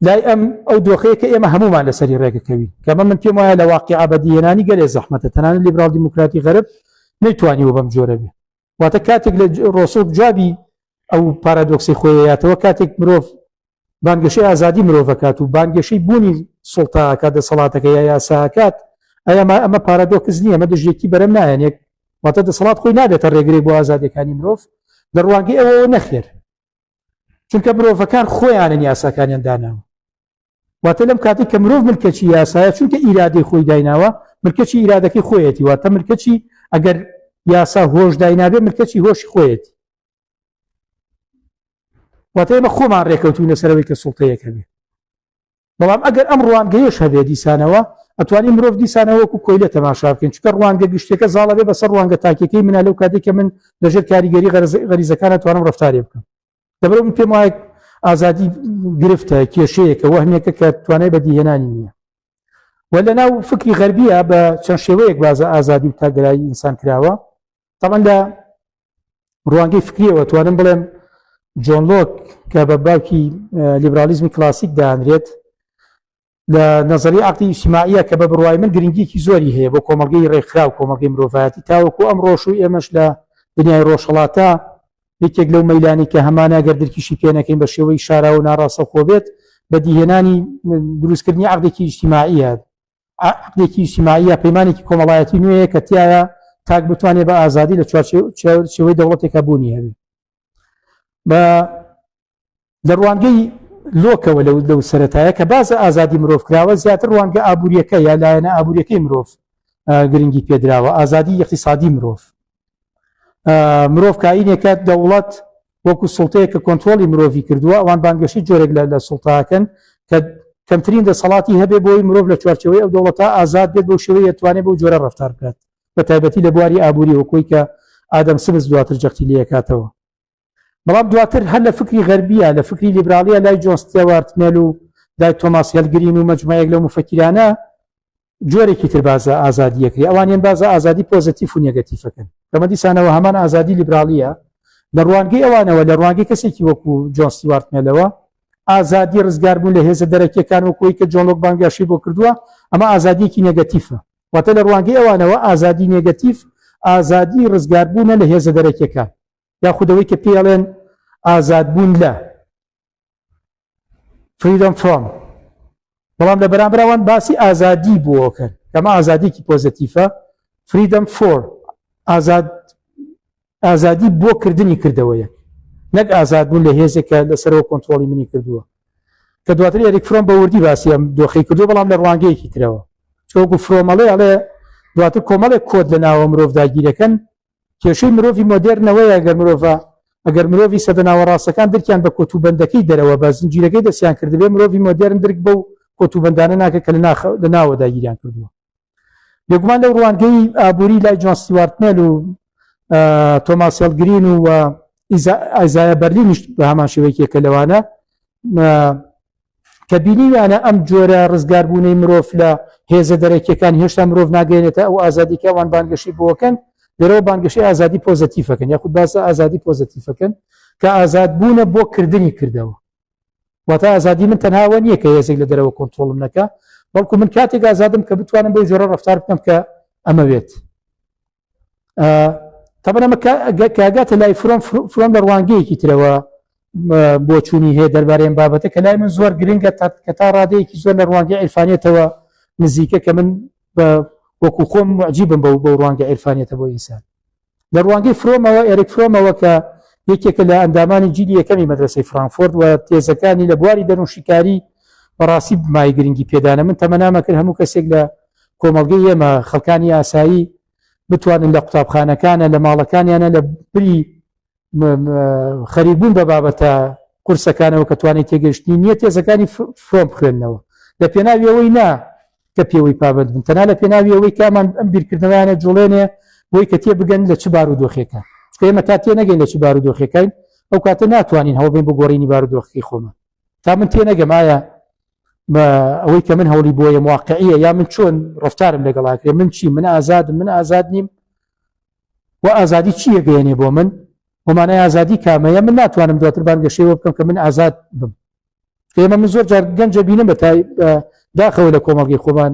لای ئەم ئەو دۆخەیە کە ئێمە هەمومان لەسەری ڕێگەکەوی کەمە من پێم وایە لە واقع ئابدیێنانی گەلێ زەحمەتە تەنانە لیبرال دیموکراتی غەرب نەیتوانیوە بەم جۆرە بێ واتە کاتێک لە ڕۆسۆک جوابی ئەو پارادۆکسی خۆیەتەوە کاتێک مرۆڤ بانگەشەی ئازادی مرۆڤەکات و بانگەشەی بوونی سڵتاکە دەسەڵاتەکە یا یاساکات ئەما ئەمە پارادۆکس نییە ئەمە دژێکی بەرەم نایەنێک واتە دەسەڵات خۆی نابێتە ڕێگرێک بۆ ئازادیەکانی مرۆڤ لە ڕوانگەی ئەوەوە نەخێر چونکە مرۆڤەکان خۆیانن یاساکانیان داناوە واتە لەم کاتی کە مرۆڤ ملکەچی یاسایە چونکە ئیرادەی خۆی دایناوە ملکەچی ئیرادەکەی خۆیەتی واتە ملکەچی ئەگەر یاسا هۆش داینابێ ملکەچی هۆش خۆیەتی واتە ئێمە خۆمان ڕێکەوتوینە سەرەوەی کە سوڵتەیەکە بێ بەڵام ئەگەر ئەم ڕوانگەیەش هەبێت دیسانەوە ئەتوانین مرۆڤ دیسانەوە وەکو کۆیلە تەماشا بکەین چونکە ڕوانگە گشتیەکە زاڵە بێ بەسەر ڕوانگە تاکیەکەی منە لەو کاتێک کە من لەژێر کاریگەری غەریزەکان ئەتوانم ڕفتارێ بکەم دەبرە من پێم وایە ئازادی گرفتە کێشەیەکە وەهمێکە کە توانای بەدیهێنانی نییە و لە ناو فکری غەربیە بە چەند شێوەیەک بازە ئازادی و تاگرایی ئینسان کراوە تەبەن لە ڕوانگەی فکریەوە توانم بڵێم جۆن لۆک کە بە باوکی لیبرالیزمی کلاسیک دانرێت لە نظری عقلی ئیسماعە کە بە بڕای من گرنگیکی زۆری هەیە بۆ کۆمەلگەی ڕێکخرا و کۆمەلگەی مرۆڤایەتی تاوەکو ئەم ڕۆژ و ئێمەش لە دنیای ڕۆژهڵاتە یەکێک لەو مەلانی کە هەمانە گەر درکیشی پێنەکەین بە شێوەی شاراوە ناڕاستەخۆ بێت بە دیهێنانی دروستکردنی عقلێکی ئیسیماعە عەقدێکی ئیجتیماعییە، پەیمانێکی کۆمەڵایەتی نوێیە کە تیایا تاک بتوانێت بە ئازادی لە چوارچێوەی دەوڵەتێکا بوونی هەبێت. بە لە ڕوانگەی لۆکەوە لەو لەو سەتایە کە باز ئازادی مرۆڤ کراوە زیاتر ڕوانگە ئابوووریەکە یا لایەنە ئابوووریەکەی مرۆڤ گرنگی پێدراوە ئازادی یەقیسادی مرۆڤ مرۆڤ کاینێکە دەوڵەت وەکو سڵتەیە کە کۆنتترۆلی مرۆڤی کردووە ئەوان بانگەشی جۆرێک لە لە سڵتاکەن کە کەمترین دەسەڵاتی هەبێ بۆی مرۆڤ لە چوارچەوەی ئەو دەوڵەتە ئازاد بێت بۆ شێوەیە توانێت بۆ جۆرە ڕفتار بکات بە تایبەتی لە بواری ئابووری وەکۆی کە ئادەم سمز دواتر جەختی لەکاتەوە بەڵام دواتر هەر لە فکری غەربیە لە فکری لیبرالیە لای جۆستێوارت مێل و لای تۆماس هێلگرین و مەجموعەیەک لەو مفەکیرانە جۆرێکی تر بازە ئازادیەکری ئەوانیان بازە ئازادی پۆزەتیف و نێگەتیفەکەن کەمە دیسانەوە هەمان ئازادی لیبرالیە لە ڕوانگەی ئەوانەوە لە ڕوانگەی کەسێکی وەکو جۆنسی وارتمێلەوە ئازادی ڕزگار بوون لە هێزە دەرەکیەکان و کۆی کە جۆنۆک بانگاشی بۆ کردووە ئەمە ئازادیەکی نێگەتیفە واتە لە ڕوانگەی ئەوانەوە ئازادی نێگەتیف ئازادی ڕزگاربوونە لە هێزە دەرەکیەکان یاخود ئەوەی کە پێی ئەڵێن ئازادبوون لە فریدم فرۆم بەڵام لە بەرامبراوان باسی ئازادی بۆکەن کەمە ئازادیکی پۆزتیفە فریدم فۆر ئازاد ئازادی بۆ کردنی کردەوەیە نەک ئازاد بوون لە هێزێکە لەسەرەوە کۆنتترۆلی منی کردووە کە دواتر ئەریک فرۆم بە وردی باسیەم دۆخی کردو بەڵام لە ڕوانگەیەکی ترەوە چۆگو فرۆمەڵێ ئەڵێ دواتر کۆمەڵێک کۆت لە ناوە مرۆڤ داگیرەکەن کێشەی مرۆڤی مۆدێرن ئەوەیە ئەگەر مرۆڤە ئەگەر مرۆڤی سەدە ناوەڕاستەکان درکیان بە کۆتوبەندەکەی دەرەوە بە زنجیرەکەی دەستیان کردبێ مرۆڤی مۆدێرن درک بەو کۆتوبەندانە ناکە کە لە ناوە داگیریان کردووە بێگومان لەو ڕوانگەی ئابووری لای جۆن سیوارت مێل و تۆماس هێڵگرین و ئایزایە بەرلینیش بە هەمان شێوەیەکێکە لەوانە کە بینیویانە ئەم جۆرە ڕزگاربوونەی مرۆڤ لە هێزە دەرەکیەکان هێشتا مرۆڤ ناگەێنێتە ئەو ئازادی کە ئەوان بانگەشی بۆکەن لەرەوە بانگەشی ئازادی پۆزەتیفەکەن یاخود باسە ئازادی پۆزەتیفەکەن کە ئازاد بوونە بۆ کردنی کردەوە واتە ئازادی من تەنهاوە نییە کە هێزێک لە دەرەوە کۆنتترۆڵم نەکە بەڵکو من کاتێک ئازادم کە بتوانم بۆی جۆرە ڕفتار بکەم کە ئەمەوێت تەبەن ئەمە کاگاتە لای فرۆم فرۆم لە ڕوانگەیەکی ترەوە بۆچوونی هەیە دەربارەیان بابەتە کە لای من زۆر گرنگە کە تا ڕادەیەکی زۆر لە ڕوانگە عیرفانێتەوە نزیکە کە من بە وەکو خۆم معجیبم بە و بە ڕوانگە عیرفانێتە بۆ ئینسان لە ڕوانگەی فرۆمەوە ئێرک فرۆمەوە کە یەکێکە لە ئەندامانی جیلی یەکەمی مەدرسەی فرانفۆرد و تێزەکانی لە بواری دەروشیکاری بەڕاستی مای گرنگی پێدانە من تەمەنامەکرد هەموو کەسێک لە کۆمەڵگەی ئێمە، خەڵکانی ئاسایی بتوانن لە قوتابخانەکانە، لە ماڵەکانیانە لە بری خەریکبوون بە بابەتە قورسەکانەوە کە توانای تێگەیشتنی نییە تێزەکانی فرۆم بخوێننەوە لە پێناوی ئەوەی نا کە پێوەی پابەند بن تەنها لە پێناوی ئەوەی کامان ئەم بیرکردنەوەیانە جوڵێنێ بۆی کە تێ بگەن لە چ بار و دۆخێکە چکە ئێمە تا تێ نەگەین لە چ بار و دۆخەکەین ئەو کاتە ناتوانین هەوڵ بین بگۆڕینی بارودۆخی خۆمان تا من تێ نەگەم ئایا ئەوەی کە من هەوڵی بۆیە واقعیە یا من چۆن ڕفتارم لەگەڵاکرێ من چی من ئازاد من ئازاد نیم و ئازادی چیە گەێنێ بۆ من ومانای ئازادی کامەیە من ناتوانم دواتر بانگەشەوە بکەم کە من ئازاد بم ئێمە من زۆر جار گەنجە بینم بە داخەوە لە کۆمەڵگەی خۆمان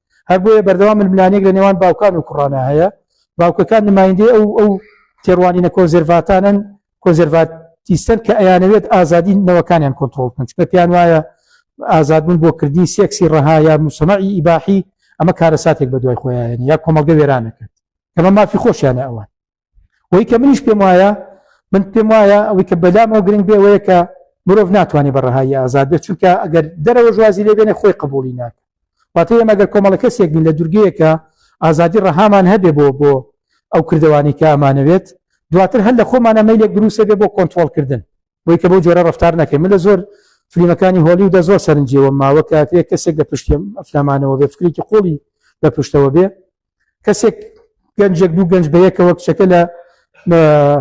هەر بۆیە بەردەوام ململانێک لە نێوان باوکان و کوڕانە هەیە باوکەکان نمایندەی ئەو ئەو تێڕوانینە کۆنزرڤاتانن کۆنزرڤاتیستەن کە ئەیانەوێت ئازادی نەوەکانیان کۆنتترۆل بکەن چکە پێیان وایە ئازادبوون بۆ کردنی سێکسی ڕەها یا مسەمەعی ئیباحی ئەمە کارەساتێک بە دوای خۆیان یا کۆمەڵگە وێرانەکەن ئەمە مافی خۆشیانە ئەوان وەی کە منیش پێم وایە من پێم وایە ئەوەی کە بەلام ئەو گرنگ بێ وەیە کە مرۆڤ ناتوانێت بە ڕەهایی ئازاد بێت چونکە ئەگەر دەرەوە ژوازی لێ بێنێ خۆی قبولی ناکە واتە ئێمە گەر کۆمەڵە کەسێک بین لە دوورگەیەکە ئازادی ڕەهامان هەبێ بۆ بۆ ئەو کردوانی کە ئەمانەوێت دواتر هەر لە خۆمانە مەیلێک بروسە بێ بۆ کۆنتترۆلکردن بۆی کە بۆ جۆرە ڕفتار نەکەین من لە زۆر فلیمەکانی هۆلی و دە زۆر سەرنجەوە ماوە کاتێک کەسێک لە پشتێ ئەفلامانەوە بێ فکرێکی قۆڵی لە پشتەوە بێ کەسێک گەنجێک دوو گەنج بە یەکەوە کچەکە لە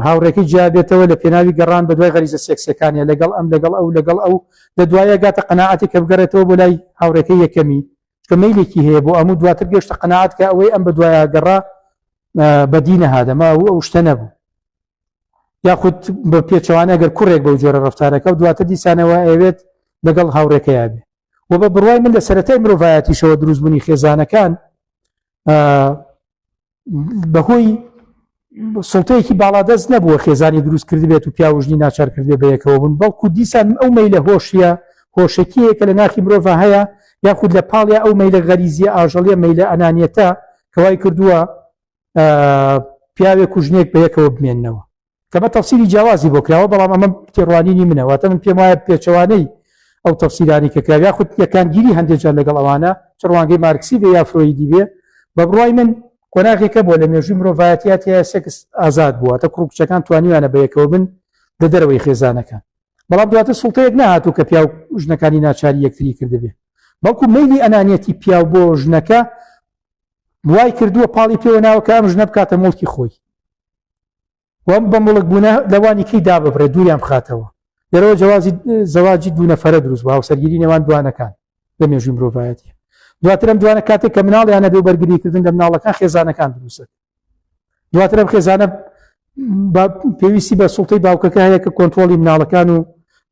هاوڕێکی جیابێتەوە لە پێناوی گەڕان بە دوای غەریزە سێکسەکانە لەگەڵ ئەم لەگەڵ ئەو لەگەڵ ئەو لە دوایە گاتە قەنەعاتی کە بگەڕێتەوە بۆ لای هاوڕێکە یەکەمی کە مەیلێکی هەیە بۆ ئەموو دواتر گەشتە قەنەعات کە ئەوەی ئەم بە دوایە گەڕا بەدینە هادەما و ئەو شتە نەبوو یاخود بە پێچوانە گەر کوڕێک بەو جۆرە ڕفتارەکە و دواتر دیسانەوە ئەوێت لەگەڵ هاوڕێکەیە بێ و بە بڕوای من لە سەتای مرۆڤایەتیشەوە دروستبوونی خێزانەکان بەهۆی سڵتەیەکی باڵادەست نەبووە خێزانی دروست کرد بێت و پیاوژنی ناچار کردێ بەیەکەوە بوون بەڵکو دیسان ئەو مەی لە هۆشیە هۆشەکیەیە کە لە ناخی مرۆڤ هەیە یاخود لە پاڵیا ئەو مەیلە غەریزیە ئاژەڵیە مەیلە ئەنانیەتە کەوای کردووە پیاوێک کوژنێک بەیەکەوە بمێنەوە کە بە تەفسیری جیاوازی بۆ کراوە بەڵام ئەمە تێڕوانینی منە واتە من پێم وایە پێچەوانەی ئەو تەفسیرانی کە کراوە یاخود یەکانگیری هەندێک جار لەگەڵ ئەوانە چ ڕوانگەی مارکسی بێ یا فرۆیدی بێ بە بڕای من قۆناغێکە بۆ لە مێژووی مرۆڤایەتیات هەیە سێکس ئازاد بووە تە کوڕ کچەکان توانیوانە بە یەکەوە بن لە دەرەوەی خێزانەکان بەڵام دواتر سڵتەیەک نهات و کە پیاو ژنەکانی ناچاری یەکتری کردبێ بەڵکو مەلی ئەنانەتی پیاو بۆ ژنەکە وای کردووە پاڵی پێوە ناوەکە ئەم ژنە بکاتە مڵکی خۆی وەم بە مڵک بوونە لەوانی کەی داببڕێ دووریان بخاتەوە لەرەوە جوازی زەواجی دوونەفرە دروست بە هاوسەرگیری نێوان دوانەکان لە مێژوی مرۆڤایەتی دواتر ئەم دوانە کاتێک کە مناڵیانە بێ بەرگریکردن لە مناڵەکان خێزانەکان دروستە دواتر ئەم خێزانە پێویستی بە سوڵتەی باوکەکە هەیە کە کۆنتترۆلی مناڵەکان و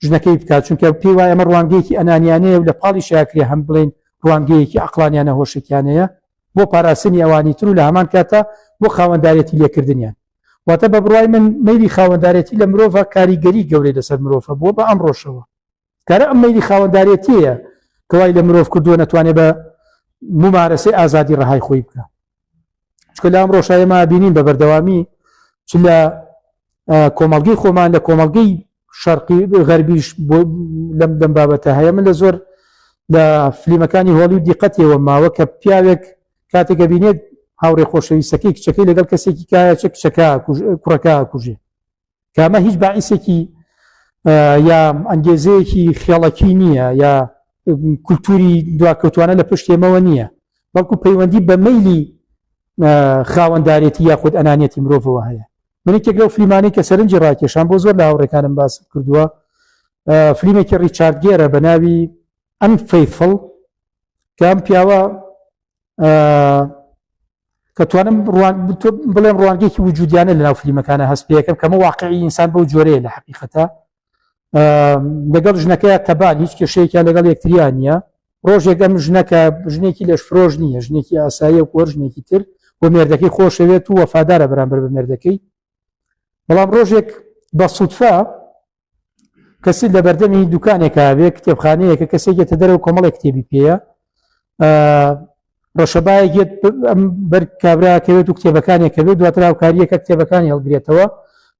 ژنەکەی بکات چونکە پێی وایە ئەمە ڕوانگەیەکی ئەنانیانەیە و لە پاڵی شاکرێ هەم بڵێن ڕوانگەیەکی عقلانیانە هۆشکیانەیە بۆ پاراستنی ئەوانی تر و لە هەمان کاتە بۆ خاوەندارێتی لێکردنیان واتە بە بڕای من مەیلی خاوەندارێتی لە مرۆڤە کاریگەری گەورەی لەسەر مرۆڤە بووە بە ئەم ڕۆژەوە کارە ئەم مەیلی خاوەندارێتیە کەوای لە مرۆڤ کردووە نەتوانێت بە ممارەسەی ئازادی ڕەهای خۆی بکە چکە لە ئەم ڕۆژایەما بینین بە بەردەوامی چ لە کۆمەڵگەی خۆمان لە کۆمەڵگەی شەرقی غەربیش بۆ لەم دەم بابەتە هەیە من لە زۆر لە فلیمەکانی هۆڵی و دیقەتیەوە ماوە کە پیاوێک کاتێکە بینێت هاوڕێ خۆشەویستەکەی کچەکەی لەگەڵ کەسێکی کایە چە کچەکە کوڕەکە کوژێ کامە هیچ باعیسێکی یا ئەنگێزەیەکی خێڵەکی نییە یا کولتوری دواکەوتوانە لە پشتێمەوە نییە بەڵکو پەیوەندی بە مەلی خاوەندارێتی یاخود ئەنانەتی مرۆڤەوە هەیە من یەکێک لەو فلیمانەی کە سەرنجی ڕاکێشان بۆ زۆر لە هاوڕێکانم باست کردووە فلیمێکی ڕیچارد گێرە بە ناوی ئەم فەیفڵ کام پیاوە کە توانم بڵێم ڕوانگەیەکی وجودیانە لە ناو فلیمەکانە هەست پێەکەم کەمە واقعی ئینسان بەو جۆرەیە لە حقیقەتە لەگەڵ ژنەکەی تەبان هیچ کێشەیەکە لەگەڵ یەکتریان نیە ڕۆژێک ئەم ژنەکە ژنێکی لەش فرۆژ نییە ژنێکی ئاساییە و کۆر ژنێکی تر بۆ مێردەکەی خۆشەوێت و وەفادارە بەرامبەر بە مێردەکەی بەڵام ڕۆژێک بە سوودفا کەسی لە بەردەمی دوکانێکە بێ کتێبخانەیەکە کەسێکێتە دەرەوە کۆمەڵی کتێبی پێەیە ڕەشەبایەک یەت ئەم بەر کابراکەوێت و کتێبەکانی کەوێت دواتر هاوکاریەکە کتێبەکانی هەڵگرێتەوە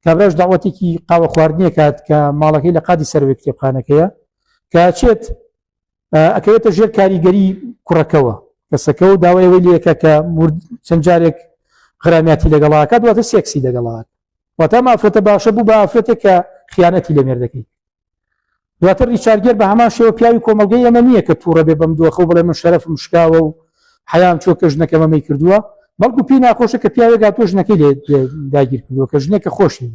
کابراش داوەتێکی قاوە خواردنیە کات کە ماڵەکەی لە قادی سەروێت کتێبخانەکەیە کاچێت ئەکەوێتە ژێر کاریگەری کوڕەکەەوە کەسەکە و داوایەوەی لەکە کە چەند جارێک غرامیاتی لەگەڵاکە دواتە سێکسی دەگەڵات واتە مافرەتە باشە بوو بە ئافرەتێک کە خیانەتی لە مێردەکەی دواتر ڕیچارگێر بە هەمان شێوە پیاوی کۆمەلگەی ئەمە نییە کە تووڕە بێ بەم دۆخە و بڵێ من شەرەفم شکاوە و حەیام چۆ کە ژنەکە مەمەی کردووە بەڵکو پێی ناخۆشە کە پیاوێک هاتۆ ژنەکەی لێ داگیر کردووە کە ژنێکە خۆشی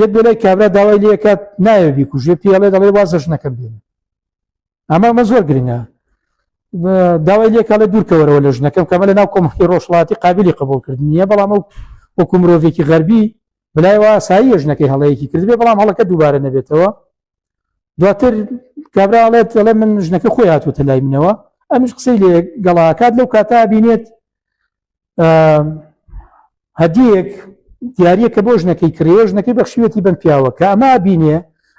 یەک بۆ لای کابرا داوای لەکات نایە بیکوژێ پێڵێ دەڵێ وازە ژنەکەم بێن ئەمە ئەمە زۆر گرنگە داوای لێکە لە دوورکەوەرەوە لە ژنەکەم کەمە لە ناو کۆمەکی ڕۆژڵاتی قابلی قبولکردنیە بەڵام ئەو وەکو مرۆڤێکی غەربی بلای وا سایی یژنەکەی هەڵەیەکی کردبێ بەڵام هەڵەکە دووبارە نەبێتەوە دواتر کابراڵێت دەڵێ من ژنەکە خۆی هاتوتە لای منەوە ئەمش قسەی لێ گەڵاکات لەو کاتا بینێت هەدیەک دیارە کە بۆ ژنەکەی کرێ ژنەکەی بەخشیوەتی بم پیاوە کە ئەما بینێ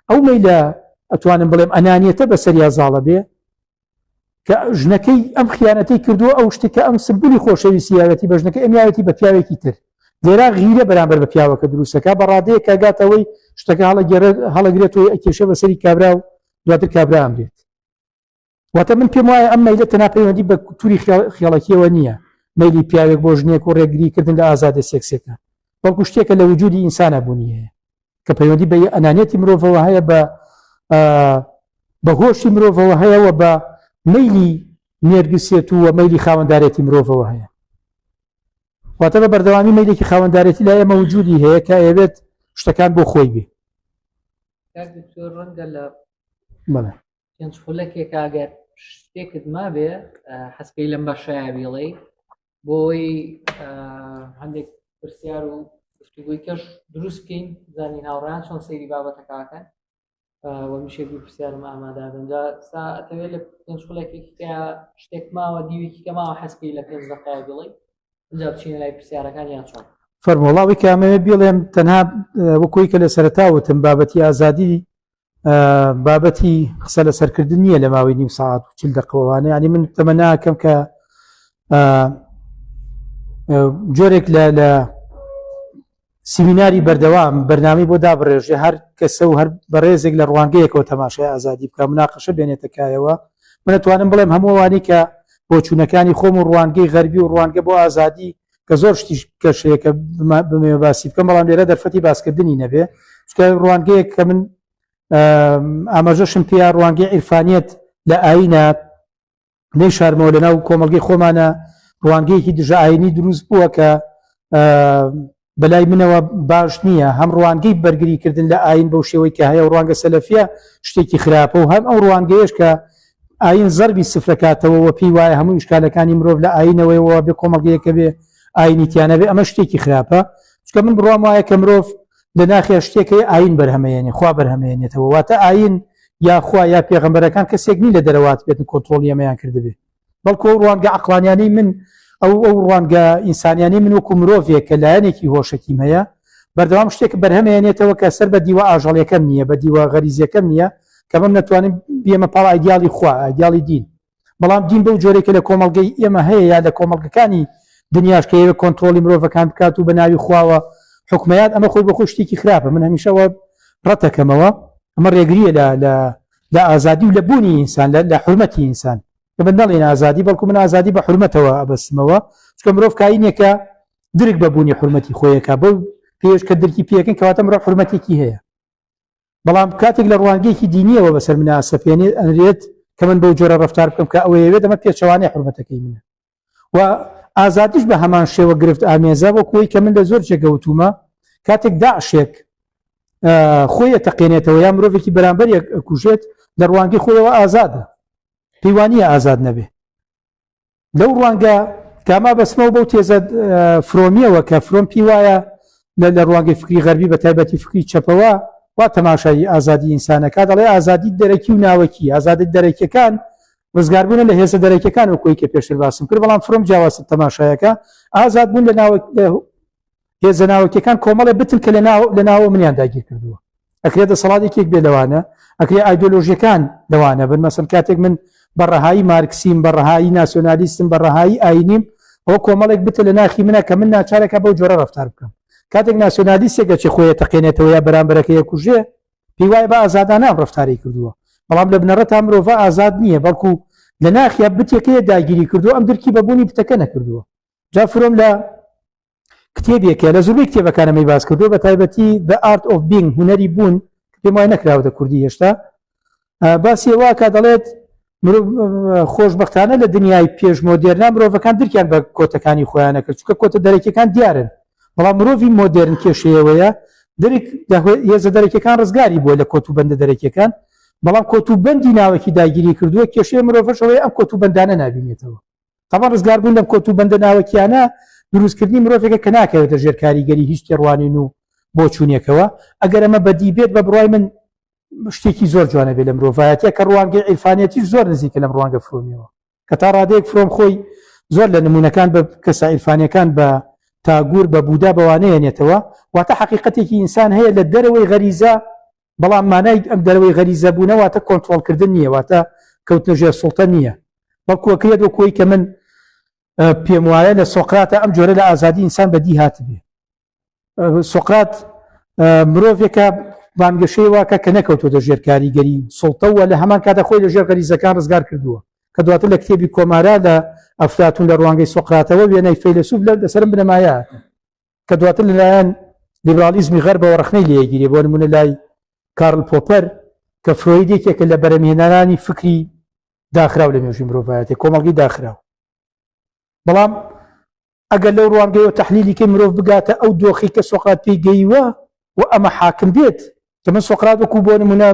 ئەو مەیلە ئەتوانم بڵێم ئەنانیەتە بە سەریا زاڵە بێ کە ژنەکەی ئەم خیانەتی کردووە ئەو شتی کە ئەم سمبولی خۆشەویستیاوەتی بە ژنەکە ئەمیاوەتی بە پیاوێکی تر لێرا غیرە بەرامبەر بە پیاوەکە دروستەکە بە ڕادەیە کاگاتەوەی شتەکە هەڵەگەێ هەڵەگرێت و ئەکێشە بە سەری کابرا و دواتر کابرا ئەمرێت واتە من پێم وایە ئەم مەیلە تەنا پەیوەندی بە تووری خێڵەکیەوە نییە مەلی پیاوێک بۆ ژنێک و ڕێگری کردن لە ئازادە سێکسەکە بەڵکو شتێکە لە وجودی ئینسانە بوونیەیە کە پەیوەندی بە ئەنانەتی مرۆڤەوە هەیە بە بە هۆشی مرۆڤەوە هەیەەوە بە مەلی نێرگسێت و مەلی خاوەنددارێتی مرۆڤەوە هەیە واتە بە بەردەوامی مەلێکی خاوەنددارێتی لا ئێمە وجودی هەیە کە ئەوێت شتەکان بۆ خۆی بێ ڕەنگە لە پێنج خولەکێک ئاگەر شتێکت مابێ حەسپی لەم بەشایە بیڵێ بۆی هەندێک پرسیار و گفتوگوی کەش دروست بکەین زانین هاوڕیان چۆن سەیری بابەتەکەکەن وە میشێ دوو پرسیارم ئامادا بنجا سا ئەتەوێت لە پێنج خولێکی شتێک ماوە دیوێکی کە ماوە حەسکی لە پێنج دەقای بڵی اینجا بچینە لای پرسیارەکان یان چۆن فەرمۆڵاوی کامەوێ بڵێم تەنها وەکوی کە لە سەرتا وتم بابەتی ئازادی بابەتی قسە لە سەرکردن نییە لە ماوەی نیو ساعت و چل دەقەوانە ینی من تەمە ناکەم کە جۆرێک لە لە سیمیناری بەردەوام بەرنامی بۆ دابڕێژێ هەر کەسە و هەر بەڕێزێک لە ڕوانگەیەکەوە تەماشای ئازادی بکە مناقەشە بێنێتەکایەوە منەتوانم بڵێم هەمووانی کە بۆچوونەکانی خۆم و ڕوانگەی غەربی و ڕوانگە بۆ ئازادی کە زۆر شتیش کەشەیەکە بمێ باسی بکەم بەڵام لێرە دەرفەتی باسکردنی نەبێ چکە ڕوانگەیەک کە من ئاماژەشم پێ ڕوانگەی عیرفانیت لە ئاینە نەی شارمەوە لە ناو کۆمەلگەی خۆمانە ڕوانگەیەکی دژە ئاینی دروست بووە کە بەلای منەوە باش نییە هەم ڕوانگەی بەرگری کردن لە ئاین بەو شێوەی کە هەیە ڕوانگە سەلەفە شتێکی خراپە و هەم ئەو ڕوانگەیەش کە ئاین زەربی سفرەکاتەوە و پێی وایە هەموو شکالەکانی مرۆڤ لە ئاینەوەیەوە بێ کۆمەڵگەیەکە بێ ئاینی تیانەبێ ئەمە شتێکی خراپە چکە من بڕام وایە کە مرۆڤ لە ناخێ شتێکەکەی ئاین بەرهەمەیەنی خوا بەرهەمێنێتەوە واتە ئاین یاخوا یا پێغمبەرەکان کەسێک نی لە دەرەوات بێتن کۆنتترۆلی ئەمەیان کردبێ بەڵکو ئەو ڕوانگە عقلانیانی من ئەو ئەو ڕوانگە ئینسانیانی من وەکو مرۆڤێک کە لایەنێکی هۆشەکیم هەیە بەردەوام شتێک بەرهەمێنێتەوە کە سەر بە دیوە ئاژەڵیەکەم نییە بە دیوە غەریزیەکەم نییە کە بم نەتوانم بیەمە پاڵ ئایدیالی خوا ئایدیالی دین بەڵام دین بەو جۆرێک کە لە کۆمەڵگەی ئێمە هەیە یا لە کۆمەڵگەکانی دنیاش کە ئێوە کۆنتترۆلی مرۆڤەکان بکات و بە ناوی خواوە حکومیات ئەمە خۆی بە خۆ شتێکی خراپە من هەمیشەوە ڕەتەکەمەوە ئەمە ڕێگریە لە لە لە ئازادی و لە بوونی ئینسان لە لە حرمەتی ئینسان ئێمە نەڵێین ئازادی بەڵکو من ئازادی بە حرمەتەوە ئەبەستمەوە چکە مرۆڤ کاینێکە درک بە بوونی حرمەتی خۆیەکە بەو پێش کە درکی پێکن کەواتە مرۆ حرمەتێکی هەیە بەڵام کاتێک لە ڕوانگەیەکی دینیەوە بەسەر مناسەپێنێت ئەنرێت کە من بەو جۆرە ڕفتار بکەم کە ئەوەیەوێت ئەمە پێچوانەی حرمەتەکەی منە و ئازادیش بە هەمان شێوە گرفت ئامێزە بۆ کۆی کە من لە زۆر جێگەوتومە کاتێک داعشێک خۆیە تەقێنێتەوە یا مرۆڤێکی بەرامبەر کوژێت لە ڕوانگی خۆیەوە ئازادە پەیوانە ئازاد نەبێ لەو ڕوانگە کاما بەسمەوە بەو تێزە فرۆمیەوە کە فرۆم پی وایە لە لە ڕوانگەی فکری غەربی بە تایبەتی فکری چەپەوە وا تەماشایی ئازادی ئینسانەکە دەڵێ ئازادی دەرەکی و ناوەکی ئازادی دەرەکیەکان ڕزگاربوونە لە هێزە دەرەکیەکان و کۆی کە پێشتر باسم کرد بەڵام فرۆم جیاواز تەماشایەکە ئازاد بوون لە ناوە هێزە ناوەکیەکان کۆمەڵە بتن کە لە ناوە منیان داگیر کردووە ئەکرێت دەسەڵاتێکێک بێ لەوانە ئەکرێ ئایدۆلۆژیەکان لەوانە بن مەسم کاتێک من بە ڕەهایی مارکسیم بە ڕەهایی ناسیۆنالیستم بە ڕەهایی ئاینیم ئەو کۆمەڵێک بتە لە ناخی منە کە من ناچارەکە بەو جۆرە ڕفتار بکەم کاتێک ناسیۆنالیستێکە چی خۆیە تەقێنێتەوە یا بەرامبەرەکەی کوژێ پێی وایە بە ئازادانە ئەم ڕفتارەی کردووە بەڵام لە بنەڕەتا مرۆڤە ئازاد نییە بەڵکو لە ناخیا بتێکەیە داگیری کردو ئەم درکی بە بوونی بتەکە نەکردووە جا فرۆم لە کتێبێکە لە زۆربەی کتێبەکانەمەی باس کردو بە تایبەتی The Art of Being هوەری بوون پێم وای نەکراوەتە کوردی هێشتا باسی واکە دەڵێت خۆشببختانە لە دنیای پێش مۆدێرنا مرۆڤەکان درکیان بە کۆتەکانی خۆیانە کرد چکە کۆتە دەرەکیەکان دیارن بەڵام مرۆڤی مۆدررن کێشەیەوەیە درک هێزە دەرەکیەکان ڕزگاری بووە لە کۆت و بەندە دەرەکیەکان بەڵام کۆت و بەندی ناوەکی داگیری کردووە کێشەیە مرۆڤشەوەی ئەم کۆت و بەندانە نبینێتەوە تەبا ڕزگاربوون لەم کۆت و بەندە ناوەکیانە دروستکردنی مرۆڤێکە کە ناکەوێتە ژێر کاریگەری هیچ تێڕوانین و بۆچوونێکەوە ئەگەر ئەمە بەدی بێت بە بڕای من شتێکی زۆر جوانە بێ لە مرۆڤایەتە کە ڕوانگەی ئیرفانەتی زۆر نزیکە لەم ڕوانگە فرۆمیەوە کە تا ڕادەیەک فرۆم خۆی زۆر لە نمونونەکان بە کەسە ئیرفانەکان بە تاگور بە بودا بەوانەیە نێتەوە واتە حقیقەتێکی ئینسان هەیە لە دەرەوەی غەریزە بەڵام مانای ئەم دەرەوەی غەریزە بوونەواتە کۆنتترۆلکردن نییە واتە کەوتنە ژێر سڵتە نییە بەڵکوەکرێت وە کۆی کە من پێم وایە لە سۆقراتە ئەم جۆرە لە ئازادی ئینسان بەدی هاتبێ سقرات مرۆڤێکە بانگەشەی واکە کە نەکەوتوتە ژێر کاریگەری سڵتەوە لە هەمان کاتە خۆی لە ژێر غەریزەکان ڕزگار کردووە کە دواتر لە کتێبی کۆمارا لە ئەفلاتون لە ڕوانگەی سقراتەوە وێنای فەیلسوف لە دەسرم بنەمایە کە دواتر لەلایەن لیبرالیزمی غەربەوە ڕخنەی لەیەگیری بۆ نمونە لای کارل پۆپەر کە فرۆید یەکێکە لە بەرەمێنەرانی فکری داخراو لە مێژوی مرۆڤایەتی کۆمەڵگی داخراو بەڵام ئەگەر لەو ڕوانگەیەوە تەحلیلی کەی مرۆڤ بگاتە ئەو دۆخی کە سۆقرات پێی گەیوە و ئەمە حاکم بێت کە من سۆقرات وەکو بۆ نمونە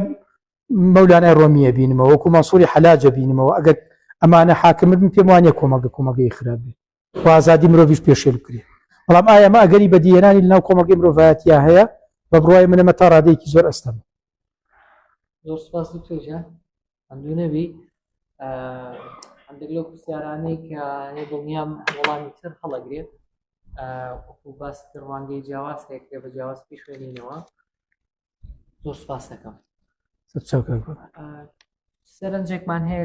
مەولانای ڕۆمیە بینمەوە وەکو مەسووری حەلاجە بینمەوە ئەگەر ئەمانە حاکمت من پێم وانە کۆمەڵگە کۆمەگەی خراپ بێت وازادی مرۆڤش پێشێل بکرێ بەڵام ئایا مە ئەگەری بەدیێنانی لەناو کۆمەگەی مرۆڤایەتیا هەیە بە بڕای منەمە تا ڕادێکی زۆر ئەستەم زۆر سپاس دکتۆر جان هەندوو نەبی هەندێک لەو پرسیارانەی کە هەیە دڵنیام وەڵامی تر هەڵەگرێت وەکو باس تر ڕوانگەی جیاواز هەیە کرێ بە جیاواز پێی خوێنینەوە زۆر سپاس دەکەم سەرنجێکمان هەیە